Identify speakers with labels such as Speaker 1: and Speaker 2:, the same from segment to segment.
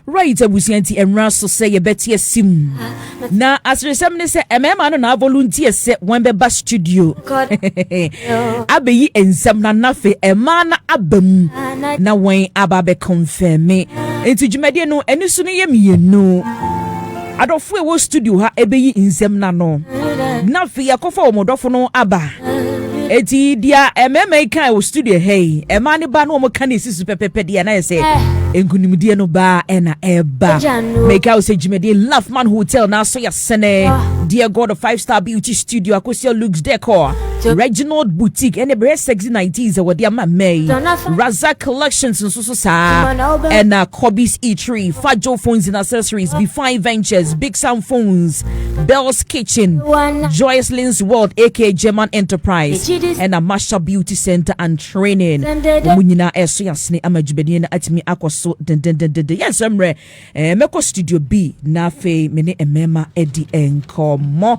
Speaker 1: Wright abusua nti ɛnwera so sɛ yɛbɛte ase mu. Na aseresɛm ne sɛ mmarima no na avolunteer sɛ wɔbɛba studio abɛyi nsɛm na nafe mmaa no aba mu na wɔn aba abɛkɔnfɛme. Nti dwumadie no ani so no yɛ mmienu. Adɔfo a ɛwɔ studio ha ɛbɛyi nsɛm no ano na afei yɛakɔfa wɔn dɔfo no aba. Eti deɛ mmarima yi kan wɔ studio ha yi, mmaa no ba na wɔn ka na esi so pɛpɛpɛ deɛ na yɛ sɛ nkunimdie no baa ɛna ɛba. Mɛka wo sɛ dwumadie Laughman Hotel na aso yɛsɛnɛ deɛ God Five Star Beauty Studio akosua Luke's Decor Reginald Boutique ɛne bɛyɛ sexy 90s a wɔde ama mmaa yi Razak Collections nso nso saa ɛna Kobe's Eatery, Fajo Phones and Accessories, Bifine Ventures, Big Sam Phones, Bell's Kitchen, Joycelyn's World aka German Enterprise, ɛna Masha Beauty Center and Training. Wɔn nyinaa ɛso yasene ama dwumadie no atumi akɔ so dendendendende. Yɛn nsɛm mmerɛ ɛɛ mɛkɔ studio B na afei me ne mmarima adi nkɔmmɔ.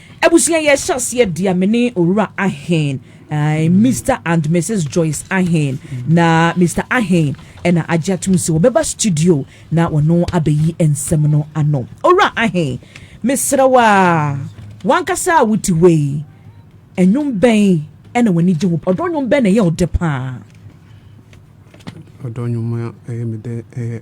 Speaker 1: Abusua yɛ hyɛ aseɛ dia me ne owura Aheen ɛɛ Mister and Misis Joyce Aheen na Mister Aheen ɛna agye atum se wɔbɛba studio na wɔno abɛyi nsɛm no ano owura Aheen mesrɛ wo a wankasa a wo te hɔ yi ɛnwom bɛn ɛna w'ani gye ho ɔdɔ nwom bɛn na ɛyɛ ɔdɛ paa ɔdɔ
Speaker 2: nwom a ɛyɛ me dɛ ɛyɛ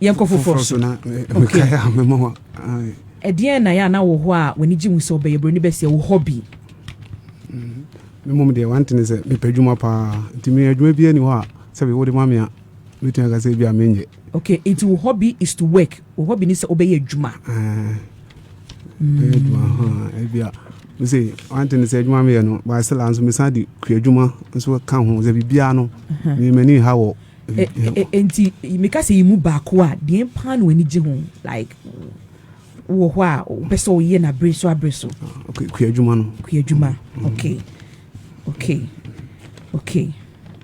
Speaker 2: yɛnkɔ foforɔ
Speaker 1: so
Speaker 2: ɛdeɛn
Speaker 1: na yɛ ana wɔ hɔ a w'ani gye ho sɛ ɔbɛyɛ buroni bɛseɛ wo hɔ bi
Speaker 2: mmom deɛ wantene sɛ mepɛ adwuma paa nti me adwuma biara ni hɔ a sɛ wode ma me a mɛtumi aka sɛ bi a menyɛ Ok nti wo
Speaker 1: hobby is to work wo hobby ne sɛ wobɛyɛ adwuma.
Speaker 2: mese one thing sɛ adwuma meyɛ no baasɛ la nso mesan de kuadwuma nso ka ho sɛ biribiaa no memani ha wɔ nti
Speaker 1: meka sɛ yi mu baako a deɛ paa no ani gye ho like wɔ hɔ a wopɛ sɛ woyɛ no abere so abere so kuadwuma
Speaker 2: no kuadwuma okay
Speaker 1: Okay okay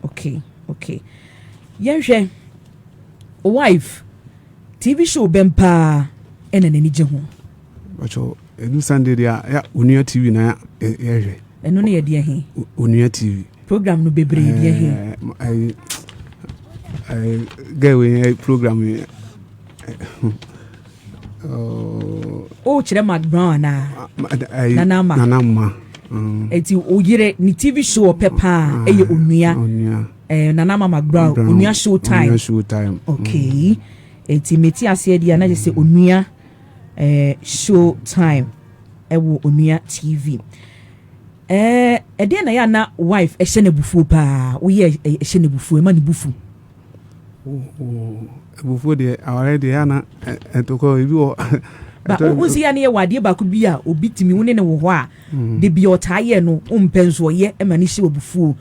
Speaker 1: okay okay yɛnhwɛ o wife TV show bɛn paa ɛna n'ani gye ho. Bàtò
Speaker 2: edu Sunday di a ya onua TV na yɛhwɛ. Ɛno ne yɛ deɛ he.
Speaker 1: Onua TV.
Speaker 2: Program no bebree
Speaker 1: deɛ he. Ɛɛ
Speaker 2: ɛɛ gɛɛ wei program yi.
Speaker 1: Oh, kyerɛ Mark Brown anaa? Nana Ama. Nana
Speaker 2: Ama. Mm.
Speaker 1: Eti oyere ne TV show ɔpɛ paa ɛyɛ ah, onua. Onua. Eh, Nana Ama Mark Brown. Onua show time. Onua show time. Okay. Mm. Eti meti aseɛ di anagye sɛ onua eh, show time ɛwɔ onua TV. Eh, ɛdeɛ na yɛ ana wife ɛhyɛ n'abufuo paa. Woyɛ ɛhyɛ n'abufuo ɛma ne bufu.
Speaker 2: Abufuo deɛ awareɛ deɛ yɛ ana ɛtokɔ ebi wɔ. Wosi
Speaker 1: yɛ ne yɛ wɔ adeɛ baako bi a obi tumi wo ne ne wɔ hɔ a mm. de bi ɔtaa yɛ no mpɛ nso ɔyɛ ɛma ne hyɛ abufuo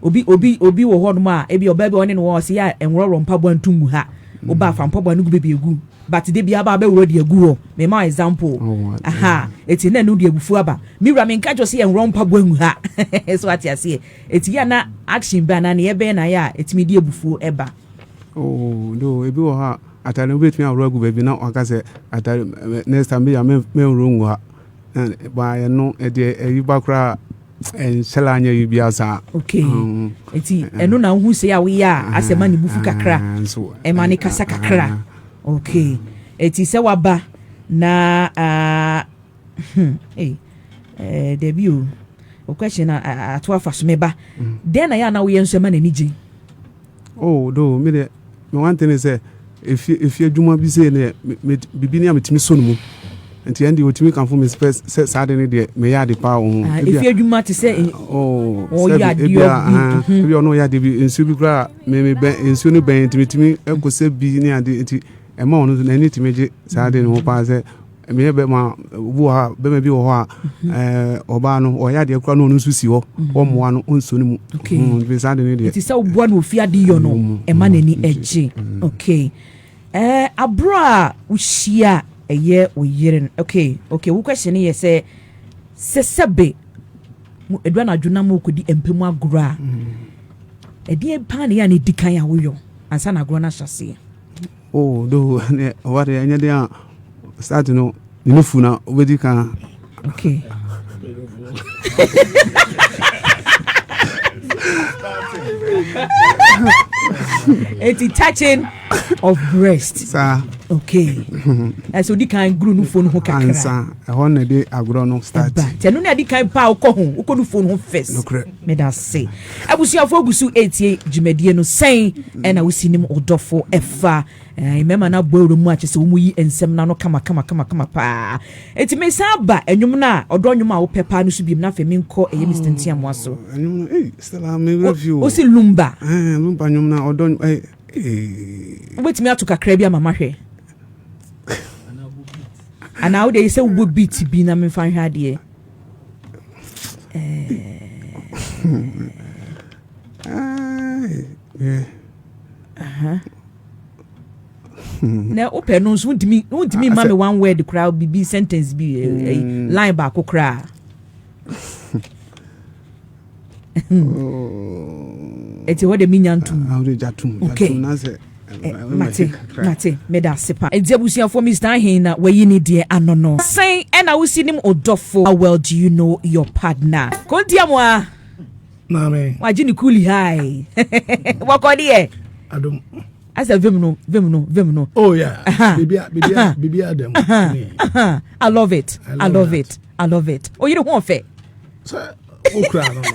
Speaker 1: obi obi obi wɔ hɔ nom a ebi ɔbaa bi ɔne ne wɔ ɔsi yɛ a nwɔrɔwɔrɔ mpaboa ntum mu ha ɔba mm. afa mpaboa no gu bebi egu but de bi aba abɛwura deɛ gu hɔ mɛma example oh, aha eti na ɛnu deɛ abufuo aba mi wura mi nka jɔ si yɛ nwɔrɔ mpaboa ngu ha so ate aseɛ. Eti yɛ a na action bɛn anaa neyɛ bɛn na ayɛ a etumi de abufuo ɛba? Oh
Speaker 2: though ebi wɔ hɔ a atare no wobɛtumi ahoro agu baabi na waka sɛ atare next time bia mɛnhoro ngu ha ba ɛno ɛdeɛ ɛyi ba koraa ɛnhyɛ la anyɛ yi bia saa okay mm.
Speaker 1: nti ɛno na wohu sɛ a woyɛ a asɛ ma ne bufu kakra ɛma ne kasa kakra okay ɛti sɛ waba na uh, Hey, eh, Debbie, oh, your question, I, I, I, I, I, me ba. Mm. Then I know we are so many niji. Oh,
Speaker 2: do me the me one thing is eh, if you if you do my busy, ne me bibi ni amitimi so mu. nti ɛn deɛ ɔtumi kanfo me sɛ sɛ saa de ne deɛ meyɛ ade paa wɔ ho ah, ɛfi adwuma te sɛ eh,
Speaker 1: oh, ɔyɛ adeɛ bi ah, mhm. ebi ɔno ɔyɛ
Speaker 2: adeɛ bi nsuo bi koraa me me bɛn nsuo no bɛn nti metumi ɛkɔ sɛ bi ne adeɛ nti ɛma ɔno n'ani tumi gye saa de ne ho paa sɛ meyɛ bɛma obi wɔ hɔ a bɛma bi wɔ hɔ a mhm. eh, ɔbaa no ɔyɛ adeɛ kora no ɔno nso si hɔ mhm. ɔmmoa no ɔnso no mu mm, saa de no deɛ ɛti sɛ woboa no ɔfi
Speaker 1: ade yɔ no mm, ɛma mm, n'ani agye okay eh, aborɔ a wohyia a ɛyɛ wo yere no okay okay wo question no yɛ sɛ sɛ sɛbe adura no adwo na ma wokɔdi mpɛ mu agorɔ a ɛdeɛ paa ne yɛ a ne di kan a woyɔ ansa na agorɔ no ahyɛ aseɛ Oh though
Speaker 2: ne ɔba de ɛnyɛ de a start no ne nufu na obedi kan.
Speaker 1: Okay. Eti touching of breast. Saa.
Speaker 2: Okay.
Speaker 1: Ɛsɛ odi kan guru nufu no ho kakra. Ansa ɛhɔ na ɛde
Speaker 2: agorɔ no start. Ɛba tɛnu na ɛde kan paa
Speaker 1: okɔ ho okɔ nufu no ho first. Nukurɛ. Meda ase. Abusuafo gu so etie dwumadie no sɛn ɛna wosi nim ɔdɔfo ɛfa eh, mmarima no abɔ awura mu akyɛ sɛ wɔyi nsɛm no ano kama kama kama kama paa enti mesan ba ɛnwom no a ɔdɔ nnwom a wopɛ paa no so biom na afei menkɔ ɛyɛ Mr Ntiamoa so oh, ɛnwom no ei Stella
Speaker 2: me werɛ fi o wosi lumba
Speaker 1: eh, lumba nnwom no
Speaker 2: ɔdɔ
Speaker 1: eh, eh. wobɛtumi ato kakra bi ama mahwɛ anaa wode yi sɛ wobɔ beat bi na memfa nhwɛ adeɛ na wopɛ no nso wontumi wontumi mma me one word koraa bibi sentence bi eh, eh, mm. line baako koraa ɛti hɔ de menya ntom okay
Speaker 2: mate
Speaker 1: mate meda ase pa ɛti abusuafoɔ mr ahen na wayi ne deɛ ano no sɛn ɛna wosi nim ɔdɔfo how well do you know your partner kontia mu a maame
Speaker 3: wagye ne kuli hai
Speaker 1: wɔkɔ deɛ adom
Speaker 3: asɛ vim
Speaker 1: no vim no vim no oh yeah
Speaker 3: bibia bibia bibia dɛm
Speaker 1: i love it i love it i love it oyere ho ɔfɛ
Speaker 3: wokura
Speaker 1: no no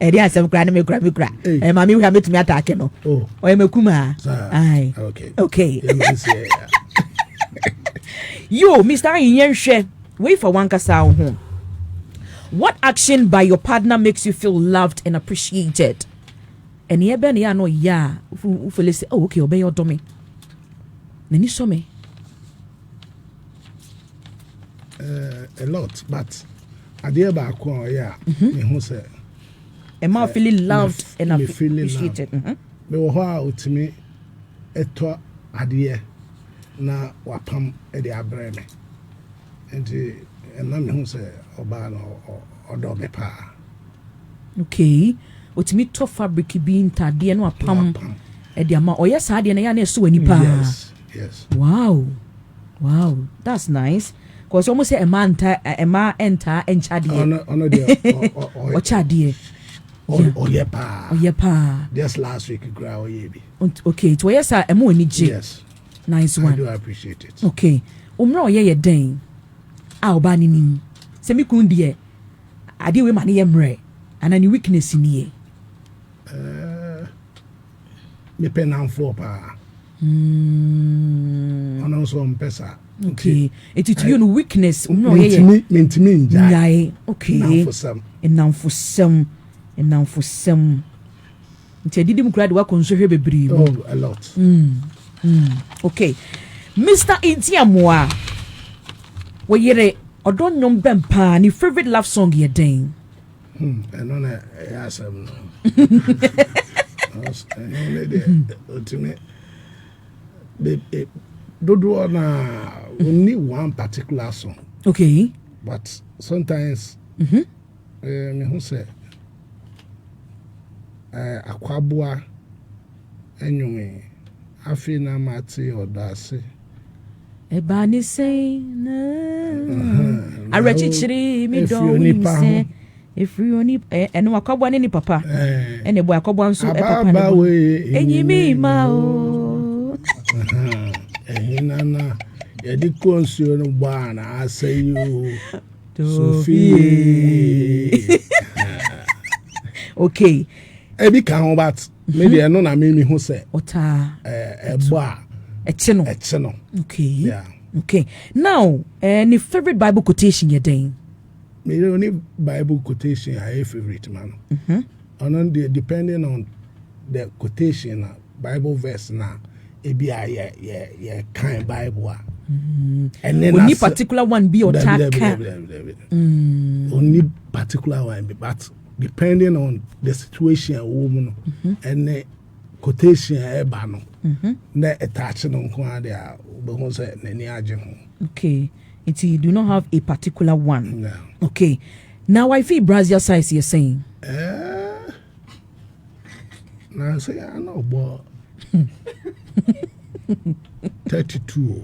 Speaker 1: ɛde asɛm kura ne me kura me kura ɛ maame wura mɛtumi ataake no ɔyɛ makumaa ae okay yo mr ayi yɛnhwɛ wei fa wankasa wo ho what action by your partner makes you feel loved and appreciated ɛneɛ bɛ ne yɛ a na ɔyɛ a wofele sɛ oh okay ɔbɛyɛ ɔdɔ me n'ani sɔ me
Speaker 3: uh, a lot but adeɛ baako a ɔyɛ a mhm. mehu sɛ ɛma eh,
Speaker 1: feeling loved and appreciated mhm. mewɔ hɔ
Speaker 3: a ɔtumi ɛtɔ adeɛ na wapam de abrɛ me nti ɛma mehu sɛ ɔbaa no ɔdɔ me paa okay
Speaker 1: ɔtumi tɔ fabric bi ntadeɛ no apam ɛde ama ɔyɛ saa deɛ no yɛ a na ɛso w'ani paa Yes.
Speaker 3: Wow
Speaker 1: wow that's nice cause wɔn sɛ ɛmaa nta ɛmaa ɛntaa ɛnkyɛ adeɛ. Ɔno ɔno deɛ
Speaker 3: ɔkyɛ adeɛ.
Speaker 1: Ɔyɛ
Speaker 3: paa. Ɔyɛ paa. Just last week kura ɔyɛ bi. Okay nti ɔyɛ saa
Speaker 1: ɛmu ani gye. Yes. Nice
Speaker 3: one. I do
Speaker 1: appreciate it.
Speaker 3: Okay omuna
Speaker 1: ɔyɛ yɛ dɛn a ɔbaa ne nim sɛ mi kun deɛ adeɛ wei ma ne yɛ mmerɛ ana ne weakness ni yɛ. Ɛɛ
Speaker 3: mepɛ nanfoɔ paa. Mm. Ɔno nso ɔmpɛ saa. Okay. Eti
Speaker 1: to you no weakness omi ɔyɛ yɛ. Mentumi mentumi ngyae.
Speaker 3: Ngyae. Okay. Nnamfosɛm.
Speaker 1: Nnamfosɛm. Nnamfosɛm. Nti adidi mu kura de wakɔ nsohwɛ bebree mu. Oh, a lot.
Speaker 3: Mm. Mm.
Speaker 1: Okay. Mr. Ntiamoa. Wɔyere ɔdɔ nnwom bɛn paa ne favorite love song yɛ dɛn? Hmm, ɛno
Speaker 3: na ɛyɛ asɛm no ɛno ne deɛ ɔtumi dodoɔ no a ɔnni one particular song okay
Speaker 1: but
Speaker 3: sometimes mm -hmm. eh, mehu sɛ eh, akwaboa anwome afei na mate ɔdɔ ase
Speaker 1: Ɛbaa ne sɛn na awerɛkyekyere me dɔ wonim sɛ ɛfiri onipa ɛno akɔboa ne ne papa ɛna ɛbɔ akɔboa nso papa ne bɔ ɛnyi me ma o ɛhena
Speaker 3: na yɛde kɔ nsuo no bɔ a na asɛ yi o sofie
Speaker 1: okay ɛbi ka ho
Speaker 3: bat Me mhm. deɛ ɛno na me mehu sɛ
Speaker 1: ɛbɔ a
Speaker 3: ɛkye no ɛkye no okay
Speaker 1: yeah. okay
Speaker 3: now
Speaker 1: eh, ne favorite bible quotation yɛ dɛn meyɛ ɔne
Speaker 3: bible quotation a ɛyɛ favorite ma no mhm. ɔno deɛ depending on the quotation na bible verse na ebi a yɛ yɛ yɛ kan bible a mhm. ɛne na ɔni particular one bi
Speaker 1: ɔtaa
Speaker 3: kan ɔni particular one bi but. depending on the situation a wɔwɔ mu no ɛne quotation a ɛba no mhm. na ɛtaakye no nko ara deɛ a wobɛhu sɛ n'ani agye ho okay
Speaker 1: nti you do not have a particular one no. okay na wifi brazil size yɛ sɛn eh,
Speaker 3: na sɛ ana ɔbɔ 32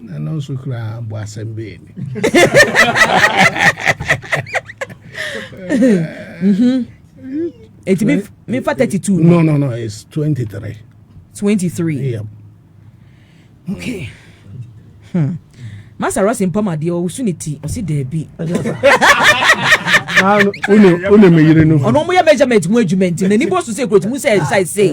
Speaker 3: na no nso koraa bɔ asɛm bɛɛ ni
Speaker 1: ɛti mefa 32 no no no it's 23 23 yep. okay hmm. masa rɔse mpamadeɛ ɔwoso ne ti ɔse daabi
Speaker 3: wone meyere no ɔno ɔmoyɛ measurement mu
Speaker 1: adwuma nti n'ani bɔ so sɛ kurotumi sɛ ɛsae sei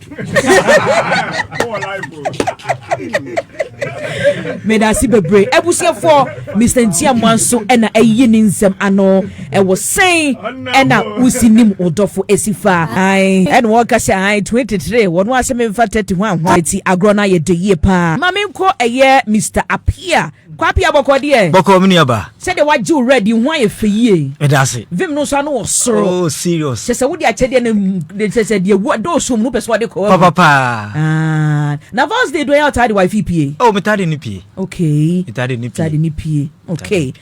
Speaker 1: medase bebree abusuafoɔ mr ntiamoa nso ɛna ayi ne nsɛm ano ɛwɔ sɛn ɛna wosi nim wodɔfo ɛsi fa ae ɛna wɔka sɛ ae 23 wɔn asɛ memfa 30 ho ahoa ɛti agorɔ no ayɛ dɛ yie paa ma menkɔ ɛyɛ mr apia Kwapia bɔkɔ deɛ. Bɔkɔ me nua ba. Sɛdeɛ
Speaker 4: wagye wo red yi
Speaker 1: ho ayɛ fɛ yie. Meda ase. Vim no nso
Speaker 4: ano wɔ soro.
Speaker 1: Oh serious. Kyɛ sɛ
Speaker 4: wode akyɛdeɛ
Speaker 1: no kyɛ sɛ deɛ wu dɔɔ som no pɛ sɛ ɔde kɔ. Papa paa. Ah.
Speaker 4: Na
Speaker 1: vows day do ɛyɛ ɔtaa de wifi pie. Oh metaa de ne pie.
Speaker 4: Okay. Metaa de ne pie.
Speaker 1: Metaa de ne
Speaker 4: pie.
Speaker 1: Okay.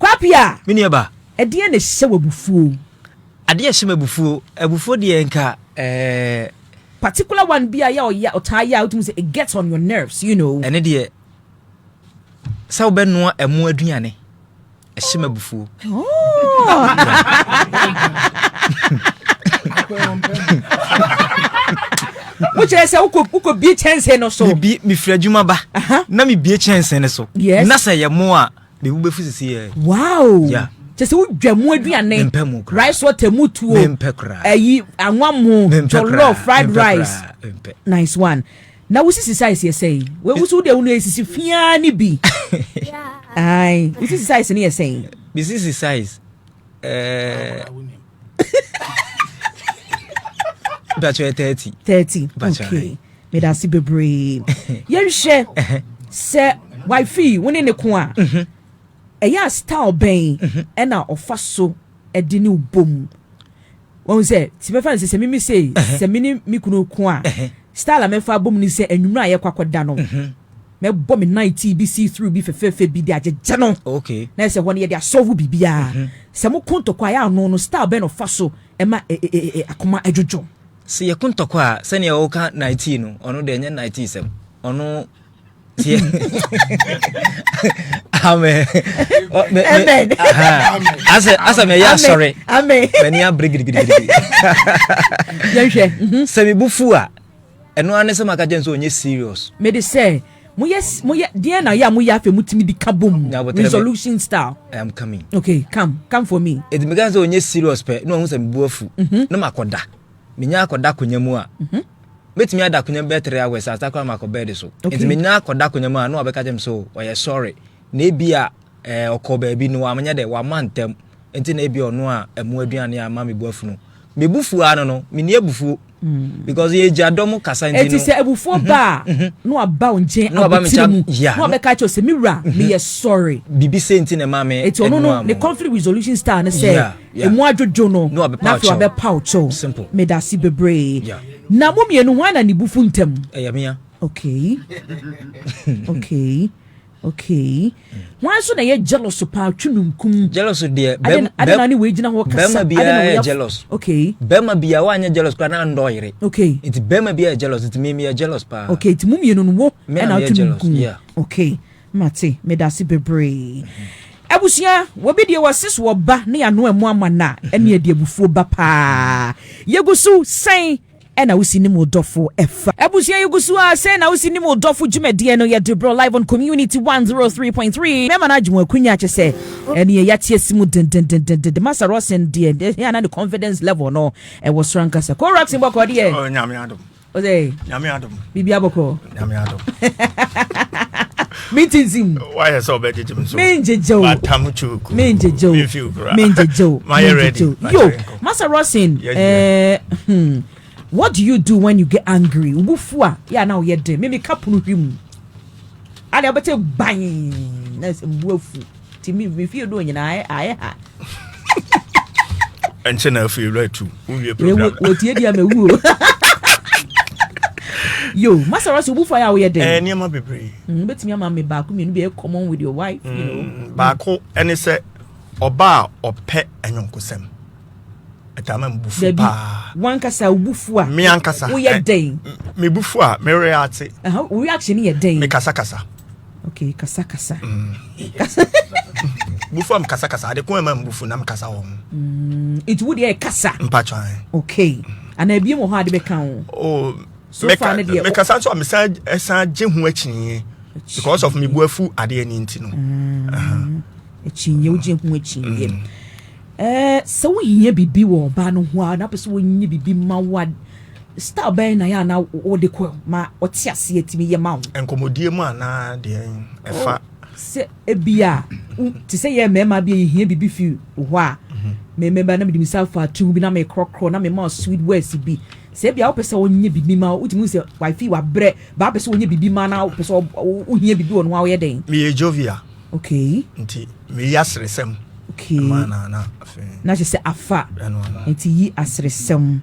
Speaker 1: Kwapia. Me nua ba.
Speaker 4: Ɛdeɛ na ɛhyɛ wɔ
Speaker 1: abufuo. Adeɛ ɛhyɛ
Speaker 4: wɔ abufuo. Abufuo deɛ nka ɛɛ. Eh,
Speaker 1: Particular one bi a yɛ ɔtaa yɛ a wotumi sɛ it gets on your nerves you know. Ɛne deɛ.
Speaker 4: sɛ wobɛnoa ɛmo aduane ɛhyɛ m abufuo
Speaker 1: wokyerɛ sɛ wokɔbie kyɛnse no so mefiri adwuma ba
Speaker 4: na mebie kyɛnse no so na sɛ yɛ mo a mebu bɛfu sisi yɛ wow yeah.
Speaker 1: kyɛ sɛ wodwa
Speaker 4: mu
Speaker 1: aduane rice water mu tuo ayi anwa mu jollof fried rice nice one Na wo sisi size yɛ sɛn? Wei wo so wo deɛ wo no esisi fi ara ne bi. Ae, wo sisi size no yɛ sɛn? Me sisi size
Speaker 4: ɛɛ. Bàtchɛ yɛ thirty. Thirty, okay.
Speaker 1: Meda ase bebree. Yɛnhwɛ sɛ wifi wo ne ne ko a. Mhm. Ɛyɛ a style bɛn mhm. ɛna ɔfa so ɛde ne bom. wɔn sɛ ti mɛfa no sɛ sɛ mimi sei sɛ me ne me kunu ko a style a mɛfa abom ni sɛ anwummerɛ a yɛkɔ akɔda no mhm. mɛbɔ me nan tii bi see through bi fɛfɛɛfɛ bi de agyegya no na ɛsɛ hɔ no yɛde
Speaker 4: asɔvo
Speaker 1: biribiara mhm. sɛ mo ko ntɔkwa yɛ ano no style bɛn na ɔfa so ɛma e, e, e, akoma adwodwo sɛ yɛko ntɔkwa
Speaker 4: a sɛnea ɔka night no ɔno deɛ ɛnyɛ night sɛm ɔno tie amen amen
Speaker 1: asɛ
Speaker 4: asɛ mɛ yɛ asɔre amen mɛ ni abiri
Speaker 1: gidigidi
Speaker 4: yɛhwɛ
Speaker 1: mhm. sɛ mi bu fu a
Speaker 4: ɛno ara ne sɛ maka kyɛn sɛ ɔnyɛ serious mɛ de sɛ
Speaker 1: moyɛ moyɛ deɛ na yɛ a moyɛ afɛ mutumi di ka bom resolution style i am coming okay
Speaker 4: come come
Speaker 1: for me ɛdi mi ka sɛ ɔnyɛ serious
Speaker 4: pɛ na ɔhu sɛ mi bu afu mhm. na ma kɔ da. menya akɔda akonnwa mu a mɛtumi ada akonnwa bɛyɛ three hours a sakora ma akɔ bɛɛde so nti menya akɔda akonnwa mu a na ɔbɛka kyɛ me so ɔyɛ sɔre na ebi a eh, ɔkɔ baabi no wamanyɛ dɛ wama ntɛm nti na ebi ɔno a ɛmo aduane a ama mebu afunu mebu fuo ano no menni abufuo Mm. because yɛ gya dɔm kasa nti no ɛti sɛ abufuo mhm. ba a
Speaker 1: mhm. na waba wo nkyɛn abotire mu na wabɛka kyɛw sɛ me wura mhm. meyɛ sɔre biribi sɛ nti na ɛma
Speaker 4: me ɛti ɔno no ne conflict
Speaker 1: resolution style ne sɛ Yeah. Emu adwodwo no, Na wabɛpaw na afei kyɛw. wabɛpaw kyɛw. Simple. Meda ase bebree. Yeah. Na mo mmienu hwan na ne bu fu ntɛm? Ɛyɛ mea. Okay. Okay. Okay. Hwan nso na ɛyɛ jealous paa twe nunkum? Jealous deɛ Ade bɛm-
Speaker 4: na- ade na bɛm- ne wɔagyina
Speaker 1: hɔ kasa. bɛrima Ade na biara wɔyɛ yɛ af- jealous.
Speaker 4: Okay. Bɛrima biara
Speaker 1: woanyɛ
Speaker 4: jealous koraa na andɔ yere. Okay. Nti bɛrima
Speaker 1: biara yɛ jealous
Speaker 4: nti me meyɛ jealous paa. Okay, nti mo mmienu no wo
Speaker 1: Me na ɛna meyɛ ato jealous, nunkum. yeah. Okay. Mate, medase bebree. Abusua, wɔbi deɛ wɔse so wɔba ne yɛano amu ama no a, ɛne ɛde abufuo ba paa. Yɛgu so sɛn ɛna wosi nim wo dɔfo ɛfa. Abusua yɛgu so a sɛn na wosi nim wo dɔfo dwumadie no yɛde brɔ live on community 103.3. Mɛma no agye mo akunya kyɛ sɛ ɛneɛ yɛate asi mu dendendendende. Masa Rosen deɛ ɛhia na ne confidence level no ɛwɔ soro ankasa. Korax mbɔkɔ deɛ. Nyame adom.
Speaker 5: ɔsɛ nyame
Speaker 1: adom biribi
Speaker 5: abɔkɔ
Speaker 1: nyame
Speaker 5: adom
Speaker 1: metintim wayɛ sɛ wobɛgyegye
Speaker 5: m so mengyegye o matam
Speaker 1: kyuku
Speaker 5: mengyegye o memfiw
Speaker 1: kora mengyegye o
Speaker 5: mayɛ ready yo masa
Speaker 1: rosin yeah, yeah. Uh, hmm. what do you do when you get angry wo bufu a yɛ a na woyɛ den meme ka pono hwi mu ade wobɛte ban na sɛ mbuafu Ti mi mi fie do nyinaa ayɛ ayɛ ha.
Speaker 5: Ɛnkyɛ na afei wura tu wowie program. Wɔ tie deɛ mɛ wuo.
Speaker 1: Yo, masara so bufa ya woyɛ den. Eh, nneɛma bebree. Mm,
Speaker 5: betumi ama me
Speaker 1: baako mmienu bi common with your wife, you know. Mm, baako ɛne sɛ
Speaker 5: ɔba a ɔpɛ anyɔnkosɛm. Ɛtama me bufu paa. Wankasa bufu
Speaker 1: a. Me ankasa. Woyɛ eh,
Speaker 5: den.
Speaker 1: Me bufu a,
Speaker 5: me react. Aha, reaction yɛ
Speaker 1: den. Me kasa kasa.
Speaker 5: Okay, kasa
Speaker 1: kasa.
Speaker 5: Kasa. Bufu am kasa kasa. Ade ko ɛma mbufu nam kasa wɔ ho. Mm, eti wo
Speaker 1: deɛ kasa. Mpatwa. Okay. Ana ebien wɔ hɔ ade bɛka ho. Oh, so
Speaker 5: far ne deɛ.
Speaker 1: Mekasa nso a mesan
Speaker 5: ɛsan gye ho akyinye because of me bu afu adeɛ ne nti no. Mm.
Speaker 1: Akyinye wogye ho akyinye. Mm. Ɛɛ, sɛ wohia biribi wɔ ɔbaa no ho a na wopɛ sɛ ɔyɛ biribi ma wo a, style bɛn na ɛyɛ a na wode kɔ ma ɔte aseɛ tumi yɛ ma wo? Nkɔmmɔdie mu anaa
Speaker 5: deɛ ɛfa. Sɛ
Speaker 1: ebia te sɛ yɛn mmarima bi a yɛhia biribi fi wo hɔ a, me mmarima na mede me nsa afa atum bi na mekorɔkorɔ na mema sweet words bi. Sɛ ebia wopɛ sɛ ɔnyɛ biribi ma wo, wotumi hu sɛ wifey wabrɛ, baa pɛ sɛ ɔnyɛ biribi ma na wopɛ sɛ wohia biribi wɔ no ho a woyɛ dɛn? Meyɛ jovial.
Speaker 5: Okay. Nti
Speaker 1: meyi
Speaker 5: aseresɛm. Okay. Ɛma na
Speaker 1: na
Speaker 5: afei. Na kyerɛ sɛ
Speaker 1: afa. Ɛno ano. Nti yi aseresɛm.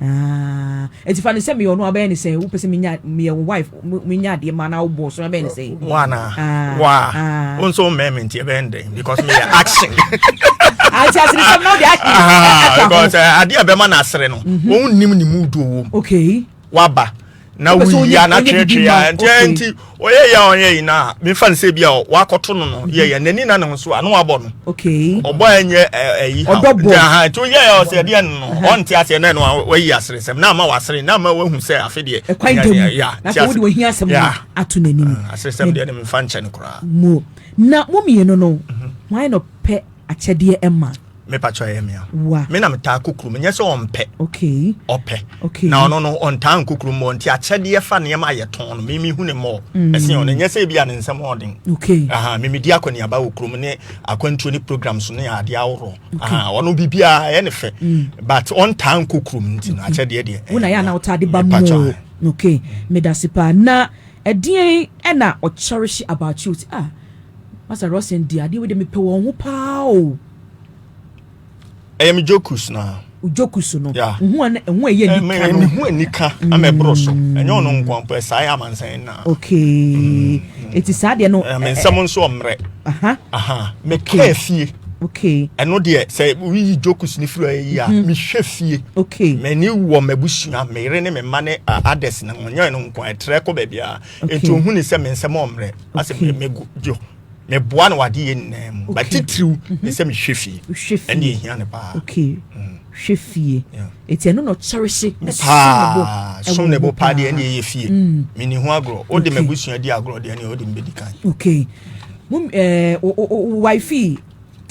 Speaker 1: Ah. Nti fa ne sɛ meyɛ ɔno abɛyɛ ne sɛ wopɛ sɛ menya meyɛ wo wife menya adeɛ ma na wobɔ so abɛyɛ ne sɛ. Wana. Ah. Wa.
Speaker 5: Ah. Wo nso mmɛn me nti ɛbɛyɛ ndɛn because meyɛ action. Ati
Speaker 1: ah, aseresɛm na ɔde action. Ah, because eh, adeɛ a
Speaker 5: bɛma no asere no. Wɔn mhm. nim ne mu duo wɔ mu. Okay. Waba. na woyia na tweetwee a nti eh, nti ɔyɛ yɛ a ɔyɛ yi na mefa no sɛ bi a wakɔto no no yɛ yɛ n'ani na ne ho so a na wabɔ no ɔbɔ a
Speaker 1: ɛnyɛ
Speaker 5: ɛyi ha nti aha nti ɔyɛ yɛ ɔsɛ ɛdeɛ no no ɔnte aseɛ na ɛno wayi asere sɛm na ama wasere na ama wahu sɛ afe deɛ ɛkwan da mu ya na sɛ
Speaker 1: wode wahia asɛm no ato n'anim ah, asere sɛm deɛ ne mefa
Speaker 5: nkyɛ no koraa na
Speaker 1: mo mmienu no mhm. wɔn ayɛ no pɛ Akyɛdeɛ ɛma. Me pakyɛ ɛyɛ mea.
Speaker 5: Wa. Me na metaa kukuru mu nyɛ sɛ ɔmpɛ. Okay. Ɔpɛ.
Speaker 1: Okay. Na
Speaker 5: ɔno no
Speaker 1: ɔntaa
Speaker 5: nkukuru mu nti akyɛdeɛ fa nneɛma a yɛtɔn no mimi hu ne mmɔɔ. Mm. Ɛsen ɔno nyɛ sɛ ebi a ne nsɛm ɔden. Okay. Aha mimi di
Speaker 1: akɔneaba
Speaker 5: wɔ kurom ne akwantuo ne programs ne adeɛ ahoroɔ. Okay. Aha ɔno biribiara ɛyɛ ne fɛ. Mm. But ɔntaa nkukuru mu nti no akyɛdeɛ deɛ. Wona yɛ ana ɔtaa de ba
Speaker 1: mu. Okay. Medase paa na. Ɛdeɛn na ɔkyɛrehye about you ti ah Master Rosen deɛ adeɛ wei deɛ mepɛ wɔn ho paa o. Ɛyɛ
Speaker 5: me jokus na. O jokus no. Yeah.
Speaker 1: Nhu a ɛho ɛyɛ
Speaker 5: nika no. Ɛmɛ ɛho
Speaker 1: nika
Speaker 5: ama ɛboro so. Mm. Ɛnyɛ ɔno nko ampo ɛsaa yɛ amansan na. Okay.
Speaker 1: Mm. Eti saa deɛ no. Ɛmɛ nsɛm nso ɔmmerɛ.
Speaker 5: Aha. Aha. Mekɛ fie. okay ɛno
Speaker 1: deɛ sɛ
Speaker 5: woyi jokes no firi ɔyɛ yi a mhm. mehwɛ fie okay m'ani
Speaker 1: wɔ
Speaker 5: m'abusua me yere ne me mma ne others na wɔnyɛ no nko ɛtrɛ kɔ baabi a ɛti ohu ne sɛ me nsɛm ɔmmerɛ asɛ mego gyo meboa no wade yɛ nyinaa mu batitiriw ne mhm. sɛ mehwɛ fie ɛne ɛhia no paa okay mm.
Speaker 1: hwɛ fie eti ɛno na ɔkyɛre hye ne
Speaker 5: som ne bo paa deɛ ɛne ɛyɛ fie mm. meni ho agorɔ wode m'abusua di agorɔ deɛ ɛne wode mbɛdi kan okay
Speaker 1: mum ɛɛ eh, o wifi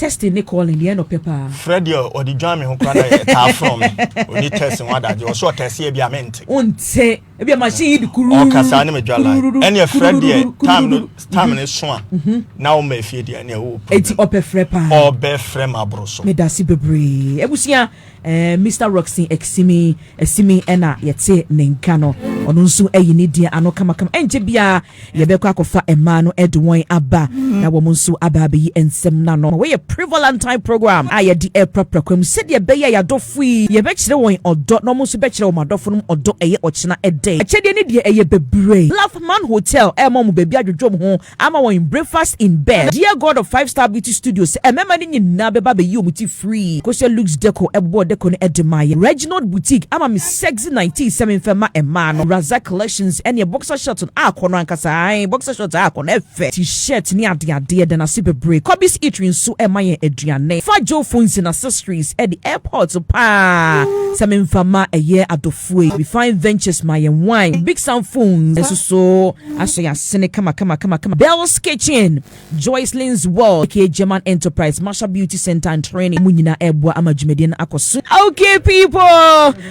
Speaker 1: testing ne calling deɛ ɛnɔpɛ paa frɛ deɛ ɔde dwan
Speaker 5: me ho kora na ɛtaa frɔ me ɔni test ho adagye ɔsɛ ɔtɛseɛ bi a mente wonte ebi a
Speaker 1: machine yi di kuru ɔkasa ne me dwa line
Speaker 5: ɛne ɛfrɛ deɛ time no time ne so a mhm. na ɔma efie deɛ ɛne ɛwɔ problem eti ɔpɛ frɛ paa
Speaker 1: ɔbɛ frɛ ma aboro
Speaker 5: so me dasi bebree
Speaker 1: ebusua ɛɛ eh, mr roxin ɛsimi ɛsimi ɛna yɛte ne nka no ɔno nso ɛyi ne deɛ ano kamakama ɛnkyɛ biara. Yɛbɛkɔ akɔfa mmaa no de wɔn aba na wɔn nso aba abɛyi nsɛm no ano. Wei yɛ Prevalentine Program a yɛde rekura prɛko mu sɛdeɛ ɛbɛyɛ a yɛn adɔfo yi, yɛbɛkyerɛ wɔn ɔdɔ na wɔn nso bɛkyerɛ wɔn adɔfo no ɔdɔ. Ɛyɛ ɔkyena de. Akyɛdeɛ no deɛ, ɛyɛ bebree. Bluff Man Hotel rema wɔn baabi adwodwo wɔn ho ama wɔn, breakfast in bed. Dear God of Five Star Beauty Studio sɛ mmarima no nyinaa bɛba abɛyi wɔn ti free. Kosua Luxe Deco bobɔɔ deco no de maeɛ. Reginald Boutique ama me. Sexy nineteen sɛ menfa ma mmaa no Razak collections ɛneɛ boxer short no akɔ no ankasa ae boxer short akɔ no ɛfɛ ti shirt ne ade adeɛ da nase bebree Cobby's eatery nso ɛma yɛn aduane fa Joe phones and accessories ɛde airport paa sɛ menfa ma ɛyɛ adɔfoe Refine ventures ma yɛn wine Big Sam phones ɛsoso asɔ yɛn asene kama kama kama kama Bells kitchen Joycelyn's World, aka German Enterprise, Marshall Beauty Center and Training, wɔn nyinaa reboa ama dwumadie no akɔ so. Okay people,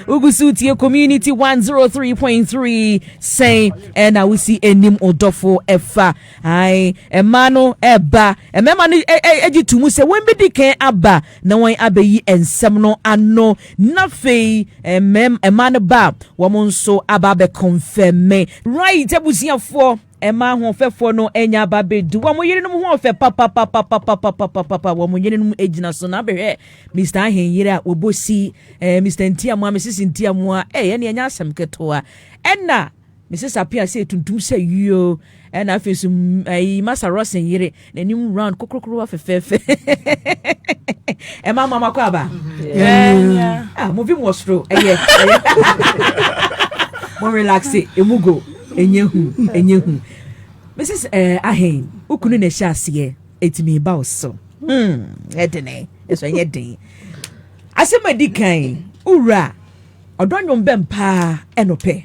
Speaker 1: wogu so tie community 103.3 sɛn ɛna wosi anim ɔdɔfo ɛfa ae ɛma no ɛba ɛmɛma no ɛgye to mu sɛ wɔn bɛdi kan aba na wɔn abɛyi nsɛm no ano na fei ɛma no ba wɔn nso aba abɛkɔnfɛmɛ right abusuafoɔ Ɛma ahoɔfɛfoɔ no anya aba bɛdi wɔn yerenom ho ɔfɛ papapapapapapapapa wɔn yerenom gyina so na abɛhwɛ Mr. Ahenyere a wɔbɔ si eh, Mr. Ntiamoa Mrs. Ntiamoa eh, ɛne ɛnyɛ asɛm ketewa ɛna Mrs. Apia sɛ tuntum sɛ yio ɛna afei nso ɛyi Masa Rosen yere n'anim round kokorokorowa fɛfɛɛfɛ ɛma mama kɔ aba ah, movie mu wɔ soro ɛyɛ mo relaxe emu go ɛnyɛ hu ɛnyɛ hu mrs eh, ahen wokunu na ɛhyɛ aseɛ ɛtumi ba wo so hmm, ɛdene ɛso ɛnyɛ den asɛm adi kan wowura ɔdɔ nwom bɛn paa ɛnopɛ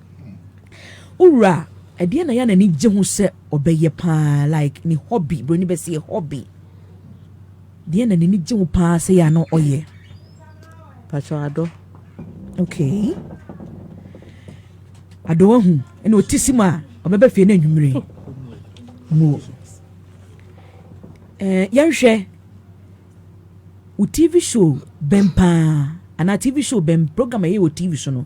Speaker 1: Wo wura ɛdeɛ na yɛ a n'ani gye ho sɛ ɔbɛyɛ paa like ne hobby broni bɛ sɛ hobby deɛ na n'ani gye ho paa sɛ yɛ a na ɔyɛ
Speaker 6: patro adɔ okay
Speaker 1: adɔ ahu ɛna ɔte si mu a ɔbɛbɛ fie no anwummere mu eh, yɛnhwɛ wo tv show bɛn paa anaa tv show bɛn program ɛyɛ wɔ tv so no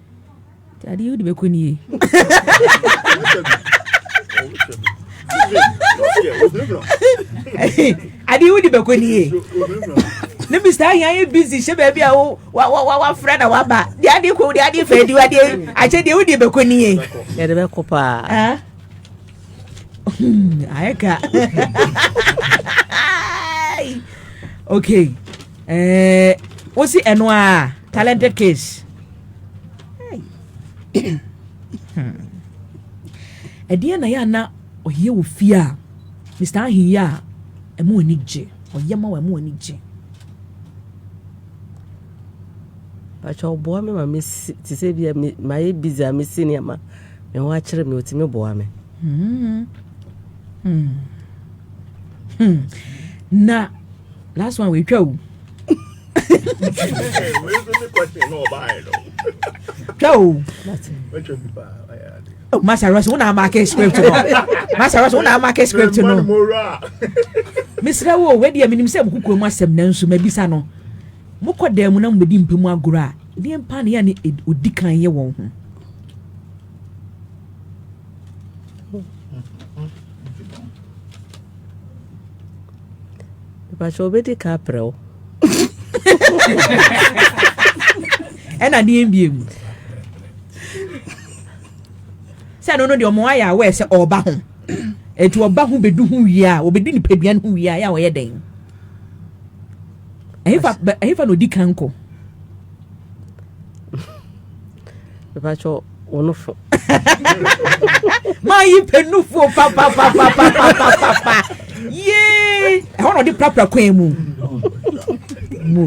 Speaker 1: adeɛ wode bɛkɔ nie adeɛ wode bɛkɔ nie ne mr ahia yɛ busy hyɛ baabi a wo wa wa wa wafra na waba de adeɛ kɔ de adeɛ fɛ de adeɛ akyɛ deɛ wode bɛkɔ nie yɛde bɛkɔ
Speaker 6: paa
Speaker 1: ayɛ ka okay ɛɛ eh, wosi ɛno a talented case Hmm. ɛdeɛ na yɛ a na ɔyɛ wɔ fie a mr aheyi a ɛmo ani gye ɔyɛ ma wɔ ɛmo ani gye
Speaker 6: pakyɛ ɔboa me ma mesi te sɛ bia mayɛ busy a mesi nneɛma me ho akyerɛ me ɔtumi boa me hmm.
Speaker 1: Hmm. Hmm. na last one wɔatwa o twa o oh, Master Ross, una market script no. Master Ross, una market script no. Mesrɛ wo, wei deɛ menim sɛ mokokuro mu asɛm nanso mabisa no. Mokɔ dan mu na mobɛdi mpɛ mu agorɔ a, deɛ mpa ne yɛ ne ɔdi kan yɛ wɔn ho.
Speaker 6: Mepakyɛw obedi ka aprɛ wo.
Speaker 1: Ɛna deɛ mbie mu. Sɛ no no deɛ ɔmo ayɛ aware sɛ ɔba ho. Ɛti ɔba ho bedu ho wie a, ɔbedu nipadua no ho wie a, yɛ a ɔyɛ dɛn? Ɛhefa na odi kan kɔ?
Speaker 6: mepakyɛ wo no fo
Speaker 1: mayi pɛnufuo papapapapapapa yee ɛhɔ na ɔde prapra kwan mu mu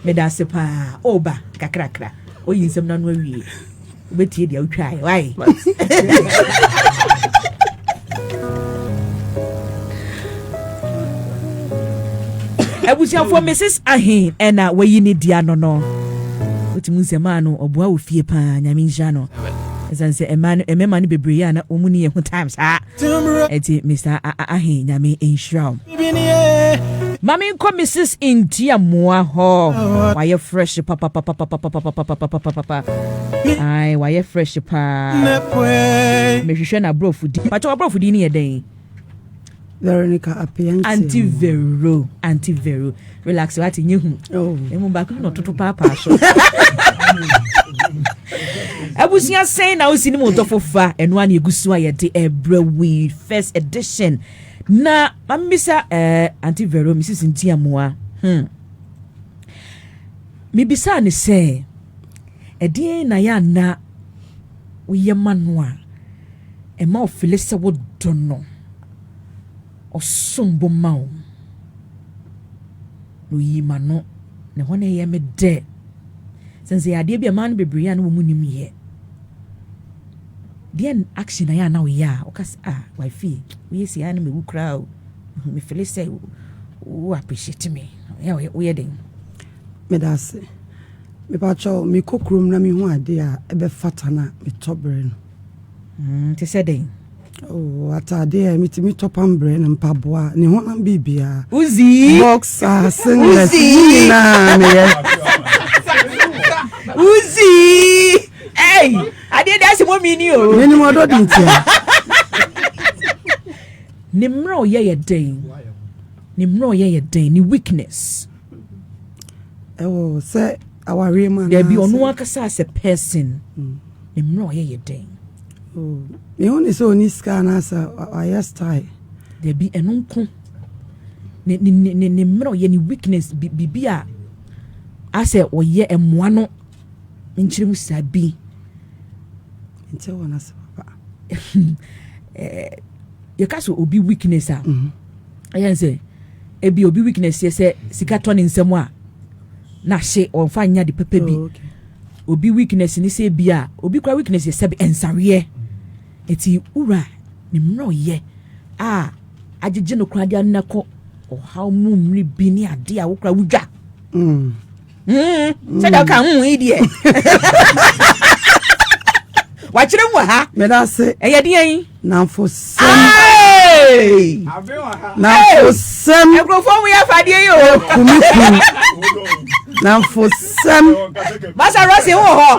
Speaker 1: meda ase paa ɔba kakrakra ɔyi nsɛm no ano awie wobɛtie deɛ wotwaeɛ wae abusuafoɔ mrs ahe ɛna wayi ne di ano no wotumi nsɛ maa no ɔboa wɔ fie paa nyame nhyira no ɛsiane sɛ ɛma no ɛmɛma no bebree a na wɔn ni yɛ ho time saa ɛti mr ahe nyame nhyira o maame nkɔ mrs ntia mmoa hɔ wayɛ fresh papapapapapapapapapapa ae wayɛ fresh paa mehwehwɛ na aborɔfo di pakyɛ waborɔfo di ne yɛ dɛn
Speaker 7: Veronica Apiantia. Anti Vero, Anti Vero.
Speaker 1: Relax, wati nye hu. Oh. Emu baako no toto paapaa so. Abusua sɛn na osi ne mu dɔfo fa ɛno a na egu so a yɛde ɛbrɛ wi first edition na mamisa ɛɛ eh, Anti Vero Mrs. Ntiamoa. Hmm. Mibisa ne sɛ ɛdeɛn na yɛ ana woyɛ ma no a, ɛma ɔfili sɛ wodɔ no, ɔsom bo ma wo, na oyi ma no. Na ɛhɔ na ɛyɛ me dɛ. Sɛ nsɛ yɛ adeɛ bi a mmaa no bebree a na wɔn nim yɛ. Deɛ action na yɛ a na woyɛ a, ɔka sɛ, ah, wifey, woyɛ si a na mewu koraa o. Mefili sɛ wo appreciate me. Woyɛ den. Meda
Speaker 7: ase. Mepakyɛw, mekɔ kurom na mihu ade a ɛbɛfata na metɔ bere no. Mm, te sɛ dɛn?
Speaker 1: Oh, atade
Speaker 7: a metumi tɔ pam bere no, mpaboa, ne honam biribiara. Uzi!
Speaker 1: Boxer,
Speaker 7: singlet, ne nyinaa meyɛ.
Speaker 1: Uzi! Ei! Adeɛ de ase mɔmi ni o. Menim ɔdɔ di ntia. Ne mmerɛ ɔyɛ yɛ dɛn? Ne mmerɛ ɔyɛ yɛ dɛn? Ne weakness. ɛwɔ
Speaker 7: sɛ awareɛ mu dabi ɔno ankasa as
Speaker 1: a person mm. ne mmerɛ ɔyɛ yɛ dɛn oh,
Speaker 7: mehu ne sɛ ɔni sika anaasɛ ɔayɛ style dabi ɛno
Speaker 1: nko ne ne ne ne mmerɛ ɔyɛ ne weakness biribi a asɛ ɔyɛ mmoa no nkyerɛmu saa bi.
Speaker 7: Nti wɔ n'ase papa. Eh,
Speaker 1: yɛka sɛ obi weakness a mhm. ɛyɛ sɛ ebi obi weakness yɛ sɛ sika tɔ ne nsam a n'ahye ɔnfa nya de pɛpɛ bi oh, obi weakness ne sɛ ebi a obi kura weakness yɛ sɛ nsaweɛ eti wura ne mmerɛ ɔyɛ a agyegye no kura de anakɔ ɔhaw mu mmiri bi ne ade a wokura wodwa. Mm. sɛdeɛ woka mm yi deɛ wakyerɛ mu wɔ ha medase ɛyɛ
Speaker 7: deɛ yi
Speaker 1: namfosɛm
Speaker 7: namfosɛm
Speaker 1: nkurɔfoɔ
Speaker 7: mu yɛ afadeɛ
Speaker 1: yi o kumi kum
Speaker 7: namfosɛm basa rɔse
Speaker 1: wɔ hɔ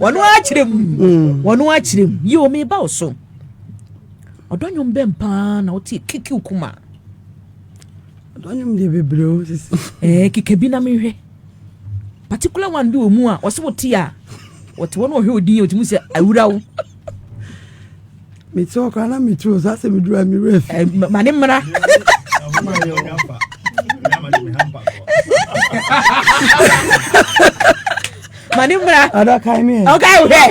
Speaker 1: wɔn akyerɛ mu mm. wɔn akyerɛ mu yi omi ba so ɔdɔ nwom bɛn paa na ɔte kiki kuma.
Speaker 7: Ɔdɔnyom deɛ bebree o sisi. Ɛɛ eh, keka bi na
Speaker 1: mehwɛ. Particular one bi wɔ mu a ɔse wote a wɔte hɔ na ɔhwɛ odin a ɔtumi sɛ awura wo.
Speaker 7: Mete hɔ koraa na metu o so asɛ meduru a mewura fi. Eh, ma ne mmara.
Speaker 1: ma ne mmra ɔdɔ kae me ɔkae
Speaker 7: wo hɛ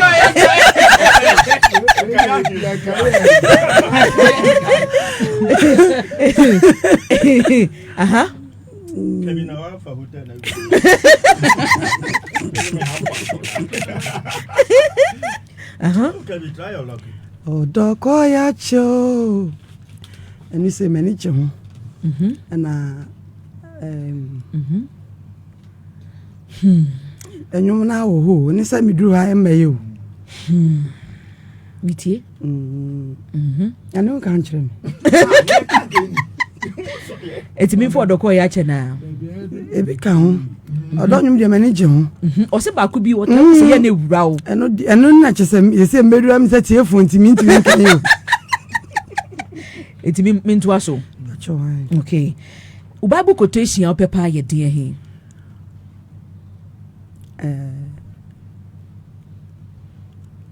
Speaker 1: aha
Speaker 5: aha ɔdɔ kɔ
Speaker 7: ya kyɛ o ɛne sɛ m'ani kyɛ ho ɛna um, mm -hmm. Hmm. Ɛnwom no awɔ hɔ o, ne sɛ meduru ha ɛmma yɛ o. Hmm.
Speaker 1: Metie.
Speaker 7: Mm. Mhm. Ɛno nka nkyerɛ me.
Speaker 1: Ɛtumi fɔ ɔdɔ kɔ yɛ akyɛ naa. Ebi ka
Speaker 7: ho. Ɔdɔ nwom deɛ m'ani gye ho. Mhm. Ɔsɛ baako bi ɔtɔ
Speaker 1: sɛ yɛ ne wura o. Ɛno ɛno na kyɛ sɛ
Speaker 7: yɛsɛ mmɛdura mi sɛ tie fo ntumi ntumi nkan o.
Speaker 1: Ɛtumi mentoa so. Okay. Wo Bible quotation a wopɛ paa yɛ deɛn he?
Speaker 7: Eh,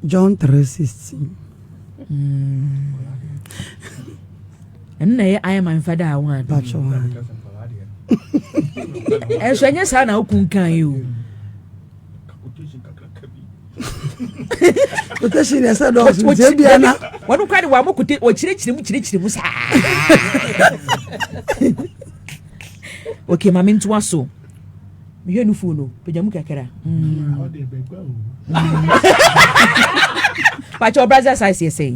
Speaker 7: John 3:16. ɛno
Speaker 1: na ɛyɛ ayɛ man fada a wɔn Pacho wan. ɛnso ɛnyɛ saa na wokun kan yi o
Speaker 7: kotation na ɛsɛ dɔɔso nti ebi ana.
Speaker 1: wɔn kura de wɔn amɔ kote wɔkyerɛkyerɛ mu kyerɛkyerɛ mu saa. okay maame ntoa so mehwɛ no fon no pagya mu kakra pakyɛ ɔbrasa size yɛ sɛn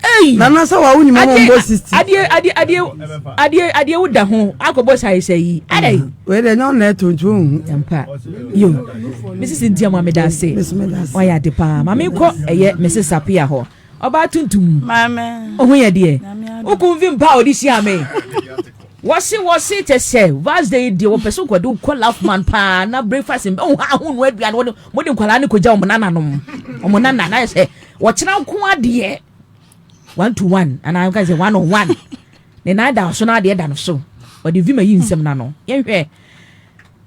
Speaker 1: Hey! Nana sɛ wa wo
Speaker 7: nyima mo mbɔ 60. Adie adie adie adie adie wo da ho
Speaker 1: akɔbɔ sai sai yi. Adai. Mm. Wei de nyɛ ɔna ɛto
Speaker 7: nti ohu. Yampa. Yo.
Speaker 1: Mrs. Ntia mo ameda ase. Mrs. Meda ase. Wayɛ ade paa. Maame kɔ ɛyɛ Mrs. Sapia hɔ. Ɔbaa tuntum. Maame. Ohu
Speaker 8: yɛ deɛ.
Speaker 1: Oku mfi mpa a ɔde hyia me. wɔsi wɔsi kyɛ sɛ vars de deɛ wɔpɛ so nkɔde kɔ lafman paa na breakfast mbɛ ɔho aho no aduane wɔde wɔde nkwadaa ne kogya wɔn nananom wɔn nana na yɛ sɛ Wɔkyena nko adeɛ one to one anaa nka sɛ one on one ne nan da so na adeɛ da no so ɔde vima yi nsɛm na no yɛnhwɛ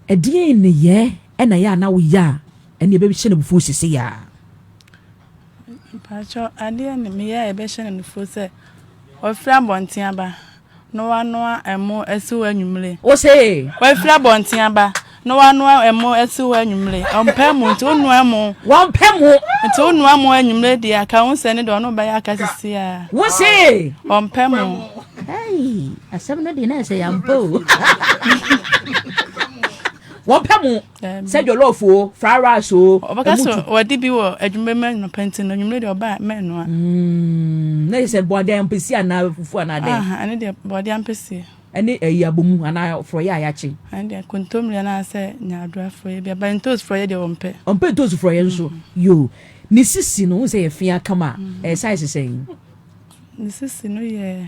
Speaker 1: ɛdeɛ nneyɛ ɛna yɛ a na woyɛ a ɛne ɛbɛhyɛ no bufuo sese yɛ a mpakyɛ
Speaker 8: adeɛ ne meyɛ a ɛbɛhyɛ no bufuo sɛ ɔfiri abɔnten aba Na wanoa ɛmo asi hɔ anwummere. Wose. Wafiri
Speaker 1: abɔnten
Speaker 8: aba. Na wanoa ɛmo asi hɔ anwummere. Ɔmpɛ mo nti wonoa ɛmo. Wɔmpɛ mo.
Speaker 1: Nti wonoa mo
Speaker 8: anwummere deɛ aka ho sɛ ne deɛ ɔno bɛyɛ aka sisi a. Wose.
Speaker 1: Ɔmpɛ mo.
Speaker 8: Hey,
Speaker 1: asɛm no deɛ na ɛsɛ yɛn ampa o. Wɔmpɛ mo. sɛ jollof o fried rice o. ɔbɛka sɛ wɔde bi
Speaker 8: wɔ adwuma mu anɔpa nti no anwummerɛ deɛ ɔba mɛnoa. Mm, na yɛ sɛ bɔɔde
Speaker 1: ampesi anaa fufu anaa dɛn. ɛne deɛ bɔɔde
Speaker 8: ampesi. ɛne ɛyi abomu
Speaker 1: anaa forɔyɛ a yɛakye. ɛne deɛ kontomire
Speaker 8: anaasɛ nyaadora forɔyɛ bi aba ntoos forɔyɛ deɛ ɔmpɛ. ɔmpɛ ntoos forɔyɛ mm. nso
Speaker 1: yoo ne sisi no wohu sɛ yɛ fea kama mm. ɛyɛ size sɛn. ne sisi
Speaker 8: no yɛ.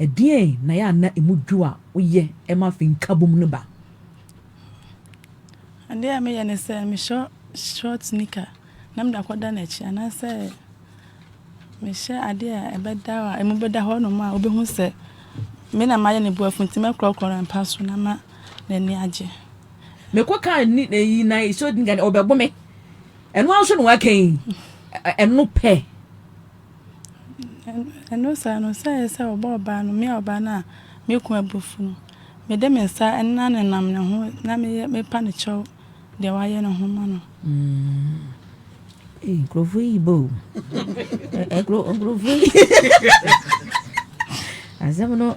Speaker 1: Ɛdeɛn na ɛyɛ a na ɛmu dwo a woyɛ ma afei nkabom no ba?
Speaker 8: Adeɛ a meyɛ ne sɛ mehyɛ short nika na mede akɔda n'akyi anaasɛ mehyɛ adeɛ a ɛbɛda hɔ a ɛmu bɛda hɔ nom a wobɛhu sɛ me na mayɛ ne boafo nti mɛkorɔkorɔ no mpa so na ma n'ani agye. Mekɔ
Speaker 1: kaa ni na yi na short nika ɔbɛbo me ɛno ara nso na waka yi ɛno pɛ.
Speaker 8: Ɛno saa no, sɛ ɛyɛ sɛ ɔbɔ ɔbaa no, me a ɔbaa no a me kunu abu afu no, mede me nsa na nenam ne ho na meyɛ mepa no kyɛw deɛ wayɛ no ho ma no. Ee,
Speaker 1: nkurɔfoɔ yi bɔ o. Nkurɔfoɔ yi. Asɛm no.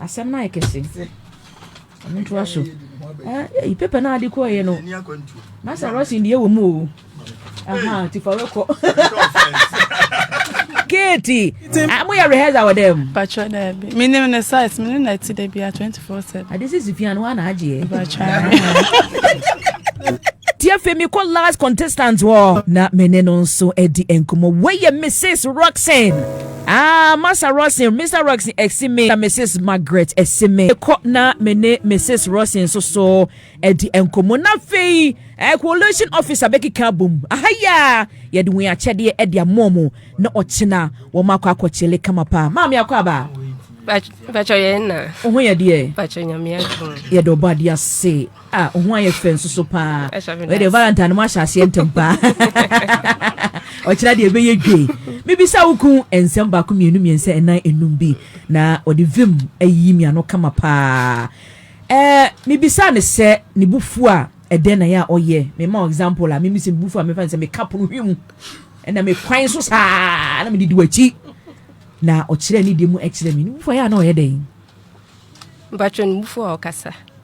Speaker 1: Asɛm no ayɛ kɛse. Mentoa so. Eh, paper no a de kɔeɛ no, na sɛ rɔsen deɛ wɔ mu o. Aha, ti fa wɛkɔ. Katie, ah, mo yɛ rehearsal wɔ dɛm. Patro daabi. Me
Speaker 8: nim ne size, me ne na ti da bia 24/7. Ade sisi pia no ana
Speaker 1: agye. Patro. Tia fe me call last contestant wɔ na me ne no nso adi nkɔmɔ. Wei yɛ Mrs. Roxanne. Ah, Massa Rosin, Mr. Roxin ɛsi me na Mrs. Margaret ɛsi me. Ɛkɔ na me ne Mrs. Rosin nso so ɛdi nkɔmɔ na afei eh, coalition officer bɛkeka abom. Aha yi a yɛde wɔn akyɛdeɛ ɛde amoɔ mu na ɔkyena wɔn akɔ akɔkyele kama paa. Maame akɔ aba.
Speaker 9: Pacho yɛn na. Ohun yɛ deɛ. Pacho
Speaker 1: nyame adum.
Speaker 9: Yɛde ɔbɔ adeɛ ase.
Speaker 1: Ah, ohun ayɛ fɛ nso so paa. Ɔyɛ de Valentine mo ahyɛ aseɛ ntɛm paa. Ɔkyerɛ deɛ ɛbɛyɛ dwe. Mibisa wo kun nsɛm baako mmienu mmiɛnsa ɛnan enum bi na ɔde vim ayi mi ano kama paa. Ɛɛ mibisa ne sɛ ne bufu a ɛdɛn na yɛ a ɔyɛ. Mema wo example a mimi sɛ me bufu a mefa ne sɛ meka pono hwi mu ɛna me kwan so saa na mede di w'akyi na ɔkyerɛ ne deɛ mu ɛkyerɛ me ne bufu a yɛ a na ɔyɛ dɛn.
Speaker 9: Mpatwɛ ne bufu a ɔkasa.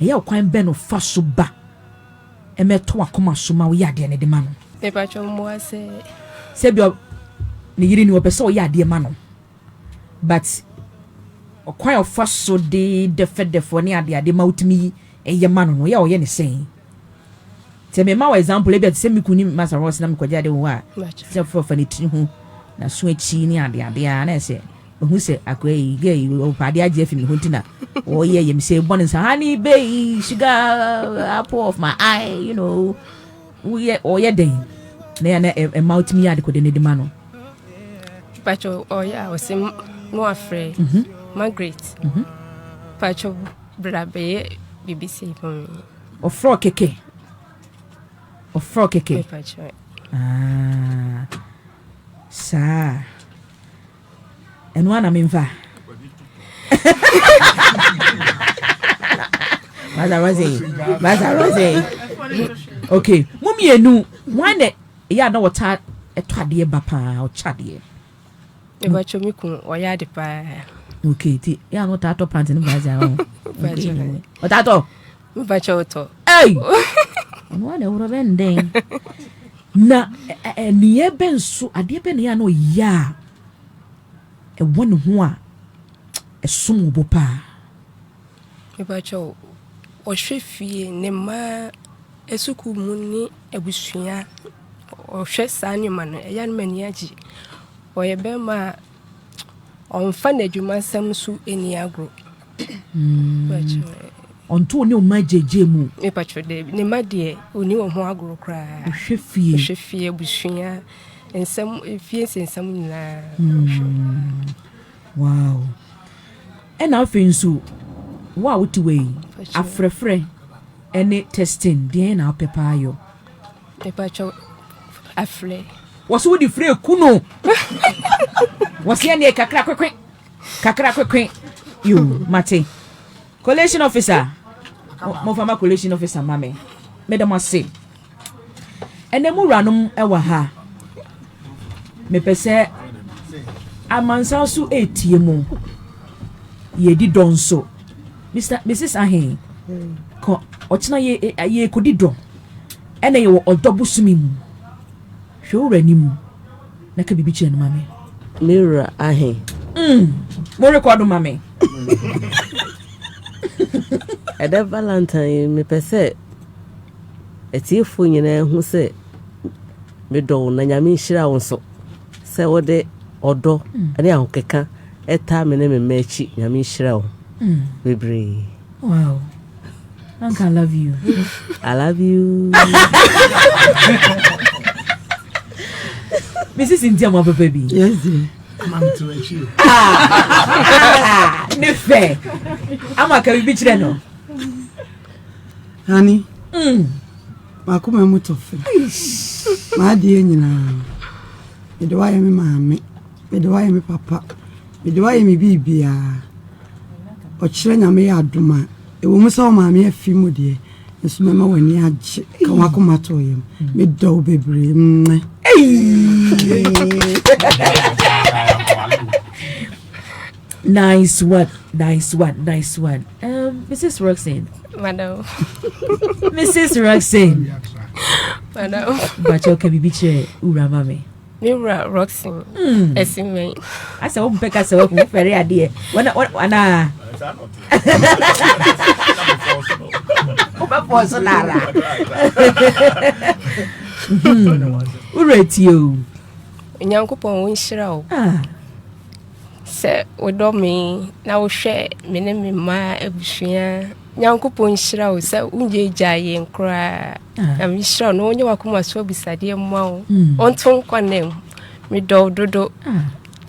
Speaker 1: Ɛyɛ ɔkwan bɛn na ɔfa so ba ma ɛtɔ w'akoma so ma woyɛ adeɛ no de ma no? Mepakyɛ wo mmoa
Speaker 9: sɛ. Sɛ ebia
Speaker 1: ne yere ni, ɔpɛ sɛ ɔyɛ adeɛ ma no but ɔkwan a ɔfa so de dɛfɛdɛfɛw ne adeade ma wotumi yɛ ma no no, woyɛ a ɔyɛ ne sɛn? Sɛ mema wo example, ebia te sɛ me kunu ne Master Ross na mekɔgye ade wɔ hɔ a, sɛ ɔfa ne tiri ho, n'aso akyi ne adeade a na ɛsɛ Mahu sɛ akoa yi, girl yi, ɔpɛ ade agye afi me hɔ nti na ɔyɛ yɛ me sɛ bɔne sa. Honey bae, sugar apple of my eye, you know. Woyɛ ɔyɛ dɛn? Na yɛ na ɛma wotumi yɛ adekode no de ma no. Patro
Speaker 9: ɔyɛ a ɔsɛ mo afrɛ. Mhm. Margaret. Mhm. Patro bra bɛyɛ biribi sɛ ma me. Ɔfrɛ kɛkɛ.
Speaker 1: Ɔfrɛ kɛkɛ.
Speaker 9: Patro. Ah.
Speaker 1: Saa. ɛno ara na memfa Master Rose, Master Rose. Okay, mo mmienu, wɔn na ɛyɛ a na wɔta ɛtɔ adeɛ ba paa, ɔkyɛ adeɛ.
Speaker 9: Ɛbɛkyɛ mi kun ɔyɛ ade paa. Okay, ti
Speaker 1: yɛ a na ɔta atɔ pant ne baasa ho. Ɔta atɔ. mepa kyɛ wotɔ ɔno wa na ɛworɔ bɛndɛn na ɛneyɛ bɛ nso adeɛ bɛ neyɛ a na ɔyɛ a ɛwɔ ne ho a ɛsom wo bo paa
Speaker 9: mepa kyɛ wo ɔhwɛ fie ne mmaa asukuu mu ne abusua ɔhwɛ saa nneɛma no ɛyɛ no m'ani agye ɔyɛ bɛrima a ɔmfa n'adwuma nsɛm so ani agorɔ
Speaker 1: Ɔnto wo ne wo mma agyaagyaa mu? Me patro dɛ ne mma
Speaker 9: deɛ ɔni wɔn ho agorɔ koraa. Ɔhwɛ fie. Ɔhwɛ fie abusua nsɛm fie nsɛnsɛm nyinaa. Hmm.
Speaker 1: Wow. Ɛna afei nso wo a wote wɔ yi afrɛfrɛ ɛne testing deɛ na wopɛ paa yɔ. Me patro
Speaker 9: afrɛ. Wɔso wode
Speaker 1: frɛ ku no. Wɔseɛ neɛ kakra kwekwe. Kakra kwekwe yo mate. Collation officer. Mo fa ma collation officer ma me. Me da mo ase. Ɛnɛ mu wuranom ɛwɔ ha. Mepɛ sɛ amansan so etie mu. Yɛdi dɔ nso. Mr. Mrs. Ahe. Kɔ ɔkyena yɛ yɛ kodi dɔ. Ɛnɛ yɛ wɔ ɔdɔ bosomi mu. Hwɛ wura ni mu. Na ka biribi kyerɛ no ma me. Me wura
Speaker 6: ahe. Mm,
Speaker 1: mo rekɔdo ma me.
Speaker 6: Ɛdɛ Valentine yi, mepɛ sɛ atiefo nyinaa hu sɛ medɔ wo na Nyame nhyira wo nso sɛ wode ɔdɔ mm. ne ahokeka ɛtaa me ne me mma akyi. Nyame nhyira wo mm. bebree. Wow.
Speaker 1: Anka I love you. I love
Speaker 6: you.
Speaker 1: Mrs. Cynthia mo papa bi. Yes dear.
Speaker 7: Mam to
Speaker 3: achieve. Ah.
Speaker 1: Ne fe. Ama ka bi kire no.
Speaker 7: Honey. Mm. Makoma mu to fe. Ma die nyina. Mede wa ye me maame. Mede wa ye me papa. Mede wo ayɛ me biribiara. Ɔkyerɛ Nyame yɛ adom a, ɛwɔ mu sɛ wo maame afi mu deɛ, nso mɛma w'ani agye ka w'akoma to yam. Medɔ wo bebree. Mmɛ. Nice one, nice one, nice one. Um, Mrs. Roxanne.
Speaker 1: Madam. Mrs. Roxanne. Madam. But okay, bibi chere urama me. ne
Speaker 9: wura roxin ɛsi hmm. mɛn. asɛ wo mpɛ
Speaker 1: kasa wahu fɛre adeɛ wɔna wɔna. wobɛpɔɔ so no ara wura tie o
Speaker 9: onyankopɔn wonhyira o ah. sɛ wodɔ me na wohwɛ me ne me mma abusua Nyankopɔn nhyira wo sɛ wonyɛgyaa yɛn koraa nyame nhyira wo na ɔnyɛ wakoma so abisadeɛ mma wo ɔnto nkɔ na mu medɔ wo dodo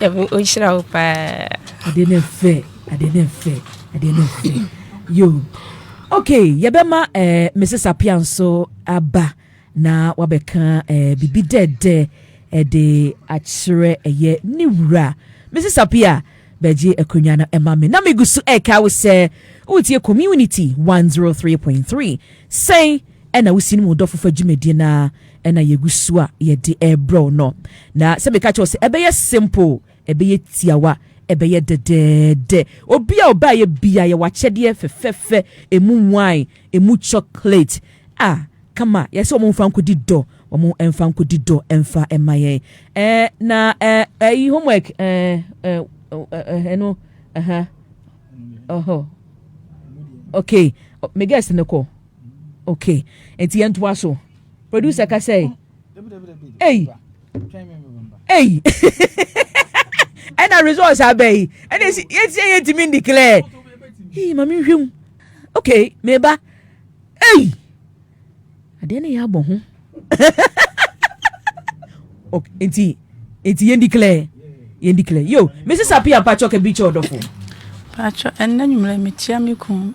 Speaker 9: nyame ɔnhyira wo paa adeɛ no ɛfɛ
Speaker 1: adeɛ no ɛfɛ adeɛ no ɛfɛ yo okay yɛbɛma eh, mrs apia nso aba Na wabɛka ɛɛ biribi dɛɛdɛ ɛde akyerɛ ɛyɛ ne wura. Mrs. Apia, bɛgye akonnwa no ɛma me. Na megu so ɛka wo sɛ wotie Community 103.3. Sɛn ɛna wosi no mu dɔ fofa dwumadie no a ɛna yɛgu so a yɛde ɛrebrɛ wo no. Na sɛ meka kyerɛ wo sɛ ɛbɛyɛ simple Ɛbɛyɛ tiawa, ɛbɛyɛ dɛdɛɛdɛ. Obi a ɔbaeɛ biara, yɛwɔ akyɛdeɛ fɛfɛɛfɛ, ɛmu wine, ɛmu chocolate a kama. Yɛsɛ wɔn mfa nkɔdi dɔ, wɔn mfa nkɔdi dɔ mfa mma yɛn. Ɛɛ na ɛɛ ɛyi homework ɛɛ ɛɛ ɛno ɛha ɔhɔ okay me guest no kɔ okay nti yɛn to aso producer kasɛɛ. ei ei ɛna results abɛ yi ɛna esi esi ɛyɛ ntumi n declare ei maame nhwɛ mu okay meba ei adeɛ no yɛ abɔ ho okay nti nti yɛn declare yɛn declare yo mesi sapi ampatsɔ kɛ bi kyɛ ɔdɔfo. patsɔ
Speaker 8: ɛnna nyimire mekyia me kun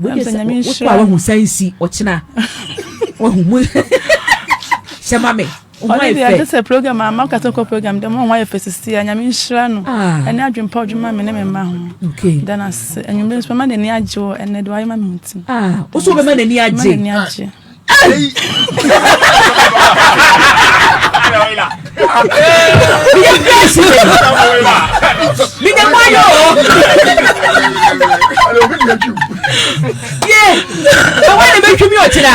Speaker 1: Wode sɛ wokɔ a wahu san si ɔkyena wahu mu hyɛ ma me ɔne deɛ ɛte sɛ
Speaker 8: program ama woka sɛ kɔ program dɛ ma ho ayɛ fɛ sisi a nyame nhyira no ah. ɛne adwempa ɔdwuma me ne me mma ho dana
Speaker 1: se anwummere
Speaker 8: nso mɛma n'ani agye wɔ ɛnɛ de wayɛ ma me nti ah, wo so wobɛma n'ani
Speaker 1: agye meyɛ pɛsi mede mayɔ ye ɛwɔ ne mɛtwumi ɔkyena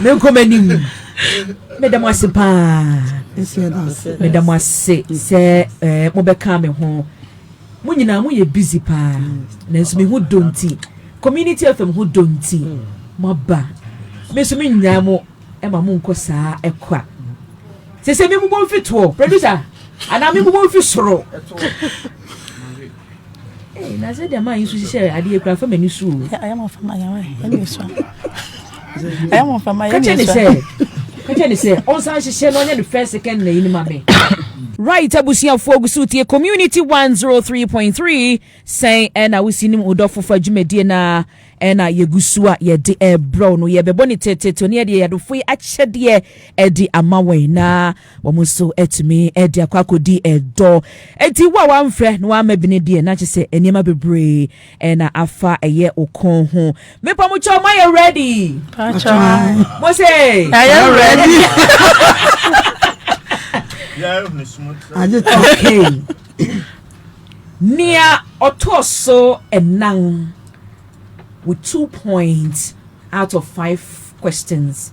Speaker 1: menkɔ m'anim meda mo ase paa meda mo ase sɛ mobɛka me ho Mo nyinaa mo yɛ busy paa nanso me ho dɔ nti community FM ho dɔ nti mo aba me nso me nyaa mo ɛma mo nkɔ saa ɛkwa sese me mobɔ mfi toɔ producer anaa me mobɔ mfi soro na sɛ deɛ maa yi nso hyehyɛ adeɛ kura fam ani so o.
Speaker 8: ɛyɛ mo fama yɛ ne sɛ kɛkyɛ
Speaker 1: ne sɛ ɔnsan hyehyɛ na ɔnyɛ ne first second na yi ne ma me right abusuafoɔ gu so tie community 103.3 sɛn ɛna wosi nim wodɔfo fa dwumadie no a ɛna yɛgu so a yɛde ɛbrɛw no yɛbɛbɔ ne tetetew ne yɛde yɛadofo yi akyɛdeɛ ɛde ama wɔn na Wɔn nso atumi de akɔ akɔdi ɛdɔ. Enti wo a woamfrɛ na woamma bi no deɛ, na kyerɛ sɛ nneɛma bebree na afa ɛyɛ wo kɔn ho. Mepa mo kyɛw, moayɛ ready? Pakyɛ
Speaker 8: mo se
Speaker 1: ɛyɛ
Speaker 8: ready.
Speaker 1: Nea ɔtɔ so ɛnan with two points out of five questions.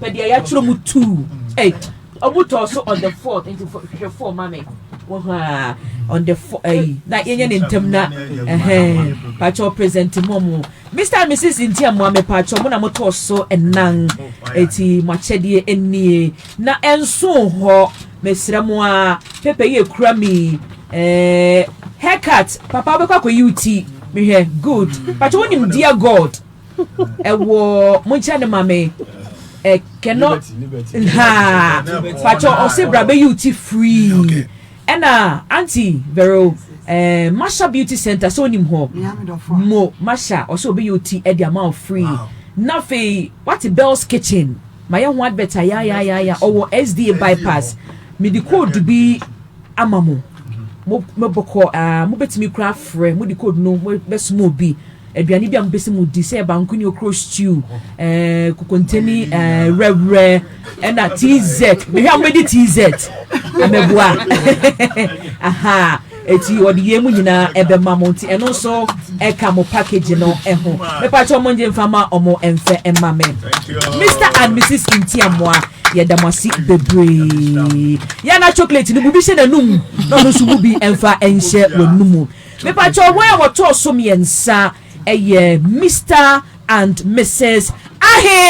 Speaker 1: pɛ deɛ yɛatwerɛ mu tuu ɛy ɔmo tɔɔ so on the fourth nti hwɛ four ma me wɔ hɔ a on the four ɛyi na yɛnyɛ ne ntɛm na ɛhɛn patsɔ present mu ɔmo mr and mrs nti a mo ame patsɔ mo na mo tɔɔ so ɛnan eti mo akyɛdeɛ enie na ɛnso hɔ mesrɛ mo a pepa yi ekura mi ɛɛ haircut papa wobɛkɔ akɔyi wo ti mehwɛ good patsɔ wonim dear god Ɛwɔ monkyɛ ne ma me ɛ kɛnɔ haa pakyɛ ɔse bra bɛyi wo ti free ɛna anti vero ɛɛ masha beauty center sɛ onim hɔ mo masha ɔse ɔbɛyi wo ti ɛde ama wo free na afei wate bells kitchen mayɛ ho advert ayayayaya ɔwɔ sda bypass mede code bi ama mo mo mobɔkɔ aa mobɛtumi kora afrɛ mode code no mobɛsoma obi Aduane bi a mopɛ sɛ modi, sɛ bankuni, okuro stew, eh, kokontani, eh, wurɛwurɛ, ɛna TZ. Mehwɛ a mobɛdi TZ. Amabua. Aha. Eti wɔde yei mu nyinaa ɛbɛma mo nti ɛno nso ɛka mo package no ɛho. Mepa kyɛ ɔmo ngye nfa ma ɔmo ɛnfɛ ɛma me. Mr and Mrs Ntiamoa yɛda mo ase bebree. Yɛn na chocolate no bu bi hyɛ n'anum na ɔno nso bu bi ɛnfa ɛnhyɛ w'anum. Mepakyɛw wɔn a wɔtɔɔ so mmiɛnsa yɛ Mister and Mrs. Ahe.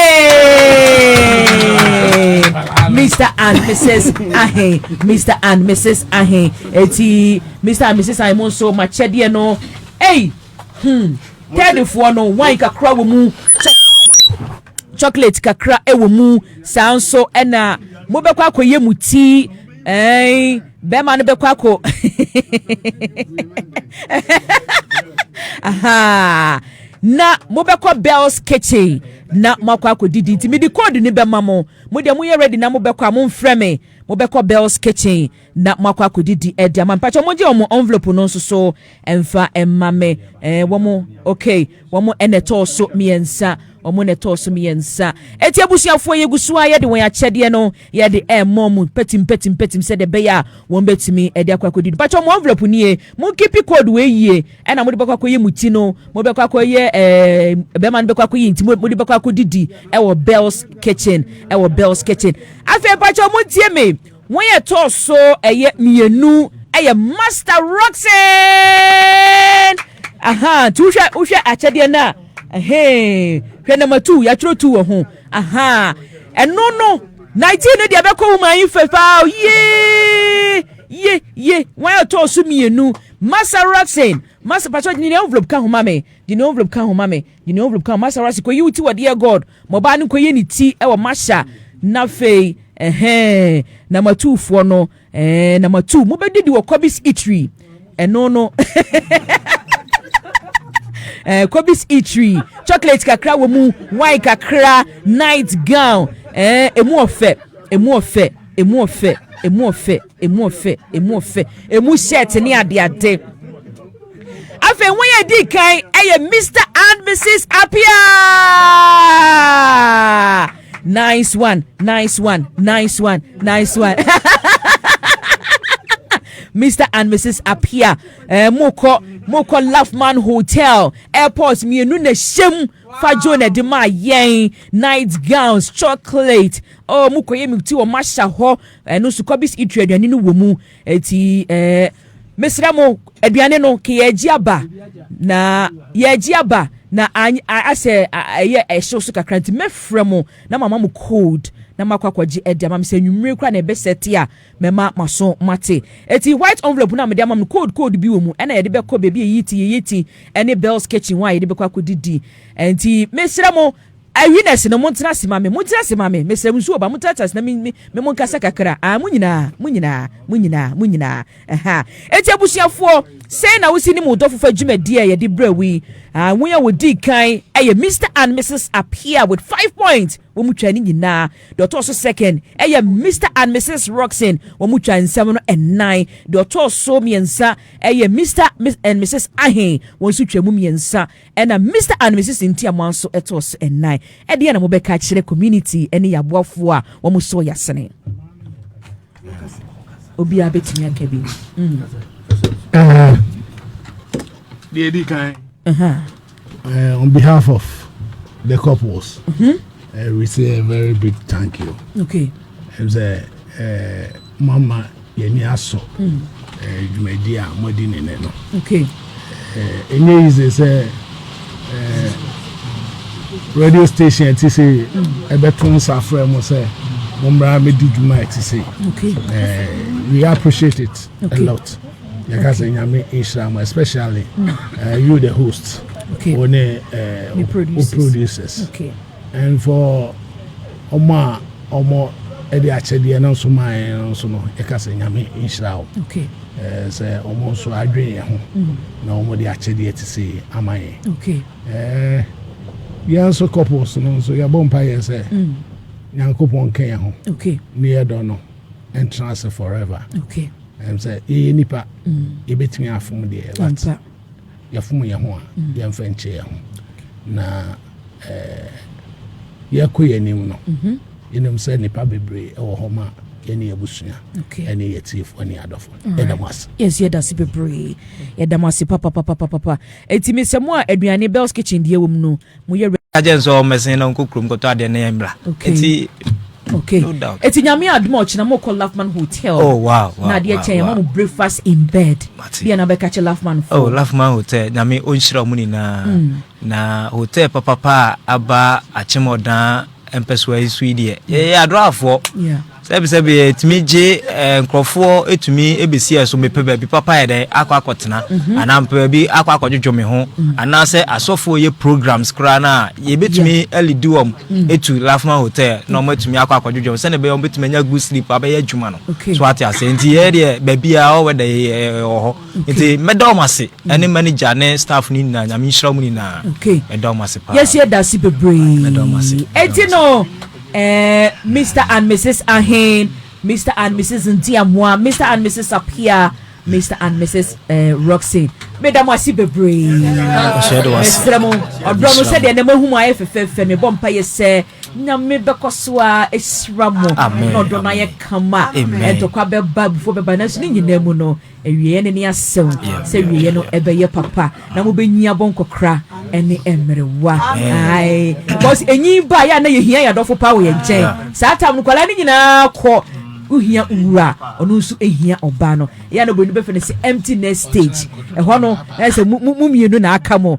Speaker 1: Mister and Mrs. Ahe. Mister and Mrs. Ahe. Eti Mister and Mrs. Ahe mo nso ma kyɛdeɛ no. Ei, hmm, tɛɛdefoɔ no wine kakra wɔ mu. Chocolate kakra wɔ mu. Saa nso ɛna mobɛkɔ akɔyɛ mu tii. Ɛɛn. bɛrima no bɛkɔ akɔ aha na mobɛkɔ bells kitchen na moakɔ akɔdidi nti mede code no bɛma mo mo deɛ moyɛ ready na mobɛkɔ a momfrɛ me mobɛkɔ bells kitchen na moakɔ akɔdidi ɛde ama mpakyɛ mogye ɔmo envelope no nso so Ɛmfa mma me eh, wɔn okay, wɔn na ɛtɔɔ so mmiɛnsa, wɔn na ɛtɔɔ so mmiɛnsa. Eti abusuafoɔ yɛgu so a yɛde wɔn akyɛdeɛ no yɛde ɛremɔ mu pɛtim pɛtim pɛtim sɛdeɛ ɛbɛyɛ a wɔn bɛtumi ɛde akɔ akɔdi no. Patwɔ mo envelope nie, mo nkipi code wɔ yie ɛna mo de bɛkɔ akɔyɛ mo ti no, mo bɛkɔ akɔyɛ ɛɛ bɛrima no bɛkɔ akɔyɛ nti mo de bɛkɔ akɔdidi ɛwɔ Bells Kitchen ɛwɔ Bells Kitchen. Afei patwɔ mo ntie me. Wɔn a ɛtɔɔ so ɛyɛ mmienu yɛ Master Rockson ahaa nti wohwɛ wohwɛ akyɛdeɛ no a ɛhee hwɛ nɔma tu yɛatwerɛ tu wɔ ho ahaa ɛno no 19 no deɛ ɛbɛkɔ woman yi fɛ paa ye ye ye wɔn a ɛtɔɔ so mmienu Master Rockson Master patro de ne envelope ka ho ma me de ne envelope ka ho ma me Nyini Ovrub kaa Masara se, Kɔyi wo ti wɔ deɛ God, ma ɔbaa no nkɔyi ne ti wɔ Masha, na afei, ɛhɛɛ, na Matuufoɔ no, ɛɛ, na Matuu, mobɛdidi wɔ Kɔbis Itri, ɛno no, ɛɛ, Kɔbis Itri, chocolate kakra wɔ mu, wine kakra, night gown, ɛɛ, emu ɔfɛ, emu ɔfɛ, emu ɔfɛ, emu ɔfɛ. Emu ɔfɛ, emu ɔfɛ, emu shirt ne adeade. Afei wɔn yɛ di kan ɛyɛ Mr and Mrs Apia. Nice one, nice one, nice one, nice one. Mr and Mrs Apia, eh, mokɔ mokɔ Laughman Hotel airport mmienu na hyɛm fa jo na ɛde maa yɛn night gowns chocolate. Oh, mokɔ yɛ mi ti wɔn ahyɛ hɔ. Ɛno nso kɔbis itu aduane no wɔ mu. Eti ɛɛ mesrɛ mo aduane no ke yɛagye aba na yɛagye aba na asɛ ɛyɛ ɛhyew so kakra nti mɛfrɛ mo na mama mo code na makɔ akɔgye ɛde ama me sɛ nwummere kora na ɛbɛsɛ te a mɛma maso mate ɛti white envelope no a mede ama no code code bi wɔ mu ɛna yɛde bɛkɔ baabi a yɛyi ti yɛyɛ ti ɛne bells kitchen hɔ a yɛde bɛkɔ akɔdidi ɛnti mesrɛ mo Awi na asi no, montena ase ma me, montena ase ma me, mesrɛ mo, nsuo ba, montena ase na me, me, me monkasa kakra, ah, mo nyinaa, mo nyinaa, mo nyinaa, mo nyinaa, aha. Enti abusuafoɔ, sɛn na wosi nim wo dɔfo fa dwumadie a yɛde brɛ wo yi? Ah, wɔn a wɔdii kan yɛ Mister and Mrs Appiah with five points, wɔn twa ne nyinaa. Deɛ ɔtɔɔ so second yɛ Mister and Mrs Roxin, wɔn twa nsɛm no nnan. Deɛ ɔtɔɔ so mmiɛnsa yɛ Mister and Mrs Ahen, wɔn nso twa mu mmiɛnsa. Ɛna Mister and Misis nti a mo aso ɛtɔɔ so ɛnan. Ɛdeɛn na mobɛka akyerɛ community ɛne yaboafoɔ a wɔn sɔɔ yasene? Obiara bɛtumi aka bi. Mm.
Speaker 3: Deɛ ɛdi kan. Uh, on behalf of the couples, mm -hmm. uh, we say a very big thank you. Okay. It's
Speaker 1: a, uh,
Speaker 3: Moama yɛni asɔ eh, dwumadi a moadi ne nɛ no.
Speaker 1: Okay. Eh,
Speaker 3: ɛnyɛ eh, yize sɛ eh, radio station ɛte sɛ ɛbɛto mm. nsa frɛ mo sɛ mommra mɛdi dwuma ɛte sɛ okay.
Speaker 1: eh, we
Speaker 3: appreciate it okay. a lot yɛka sɛ nyame nhyira mo especially mm. eh, you the host okay. wo ne eh,
Speaker 1: producers
Speaker 3: okay. And for wɔn a wɔde akyɛdeɛ no nso maa yɛn no nso no, yɛka sɛ Nyame nhyira wo. Okay. Eh, sɛ
Speaker 1: wɔn
Speaker 3: nso adwen yɛn ho mm. na wɔde akyɛdeɛ te sei ama yɛn.
Speaker 1: Okay.
Speaker 3: Eh, yɛn nso couples no nso yɛbɔ mpa yɛ sɛ mm. Nyankopɔn nka yɛn ho. Okay. Ne yɛ dɔ no ɛntena ase forever. Okay. Ɛm
Speaker 1: sɛ yɛyɛ
Speaker 3: nipa mm. yɛbɛtumi afom deɛ. Ɛmpa. Yɛfom yɛn ho a, yɛmfa nkyɛ yɛn ho. Na eh, yɛkɔ yɛn anim no, mhm. yɛnim sɛ nnipa bebree wɔ hɔ ma yɛne abusua ɛne yɛtiefoɔ ne adɔfo yɛda mo ase yes yɛda ase bebree
Speaker 1: yɛda mo ase papapapapapa ɛtumi sɛ mo a aduane bells kitchen deɛ wɔ mu no moyɛ ready. Ka kyerɛ no sɛ ɔmmɛsen na
Speaker 4: ɔnkɔ kurom nkɔtɔ adeɛ na yɛmmra. Okay. Nti, Okay. no
Speaker 1: doubt. Eti Nyame
Speaker 4: adom a ɔkyena
Speaker 1: mokɔ Lafman Hotel Oh, wow, wow, na adeɛ
Speaker 4: wow, kyɛ yɛma wow. mo
Speaker 1: breakfast in bed. Mate. Deɛ na bɛka kyɛ Lafman Oh, foɔ. Lafman Hotel,
Speaker 4: Nyame ɔnhyira ɔmo nyinaa. Na hotel papapa a aba Akyem Ɔdaa mpɛsoa yi so yi deɛ, yɛyɛ adorafoɔ. Yeah. Sɛbesɛbe etumi gye nkurɔfoɔ tumi bɛsi ɛso, mepɛ baabi papa ayɛ dɛ akɔ akɔtena, mm-hmm. anaa mepɛ baabi akɔ akɔdwodwo me ho, mm-hmm. anaasɛ asɔfoɔ yɛ programs koraa no a yɛbɛtumi alidi wɔm mm-hmm. ɛtu Lafman Hotel na wɔn atumi akɔ akɔdwodwo wɔn sɛdeɛ ɛbɛyɛ wɔn bɛtumi anya good sleep abɛyɛ adwuma no so ate ase nti yɛ deɛ baabi a ɔwɔ da ɛwɔ hɔ nti mɛda wɔn ase ɛne manager ne staff no nyinaa nyame nhyira mu nyinaa mɛda wɔn ase paa yɛsi ɛda ase
Speaker 1: bebree ɛti
Speaker 4: no
Speaker 1: Eh, Mister and Misis Ahen, Mister and Misis Ntiamoa, Mister and Misis Apia, Mister and Misis eh, Roxy. Meda mo ase bebree. Mesrɛ mo, ɔdɔ no sɛdeɛ na mahu mu ayɛ fɛfɛɛfɛ mebɔ mpa yɛ sɛ nyame bɛkɔ so a ɛhyira mo na ɔdɔ no ayɛ kama ɛntɔkwa bɛba abufoɔ bɛba nanso ne nyinaa mu no Awieɛ no ne asɛw sɛ wieɛ no ɛbɛyɛ papa na mo bɛnyin abɔ nkɔkora ɛne ɛmmerewa ae because ɛnyin ba yɛ a na yɛhia yɛ adɔfo paa wɔ yɛn nkyɛn saa tam no kwalaa no nyinaa kɔ wohia wura ɔno nso ɛhia ɔbaa no yɛ a na bɔni bɛfɛ no sɛ empty nest stage ɛhɔ no ɛsɛ mo mmienu na aka mo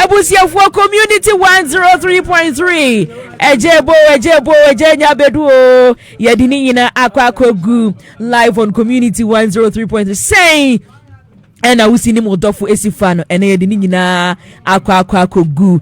Speaker 1: Abusuafoɔ community 103.3 Ɛgye bo ɛgye bo ɛgye nya bedu o yɛde ne nyinaa akɔ akɔgu live on community 103.3 sɛn ɛna wosi ne mu dɔfo esi fa no ɛna yɛde ne nyinaa akɔ akɔ akɔgu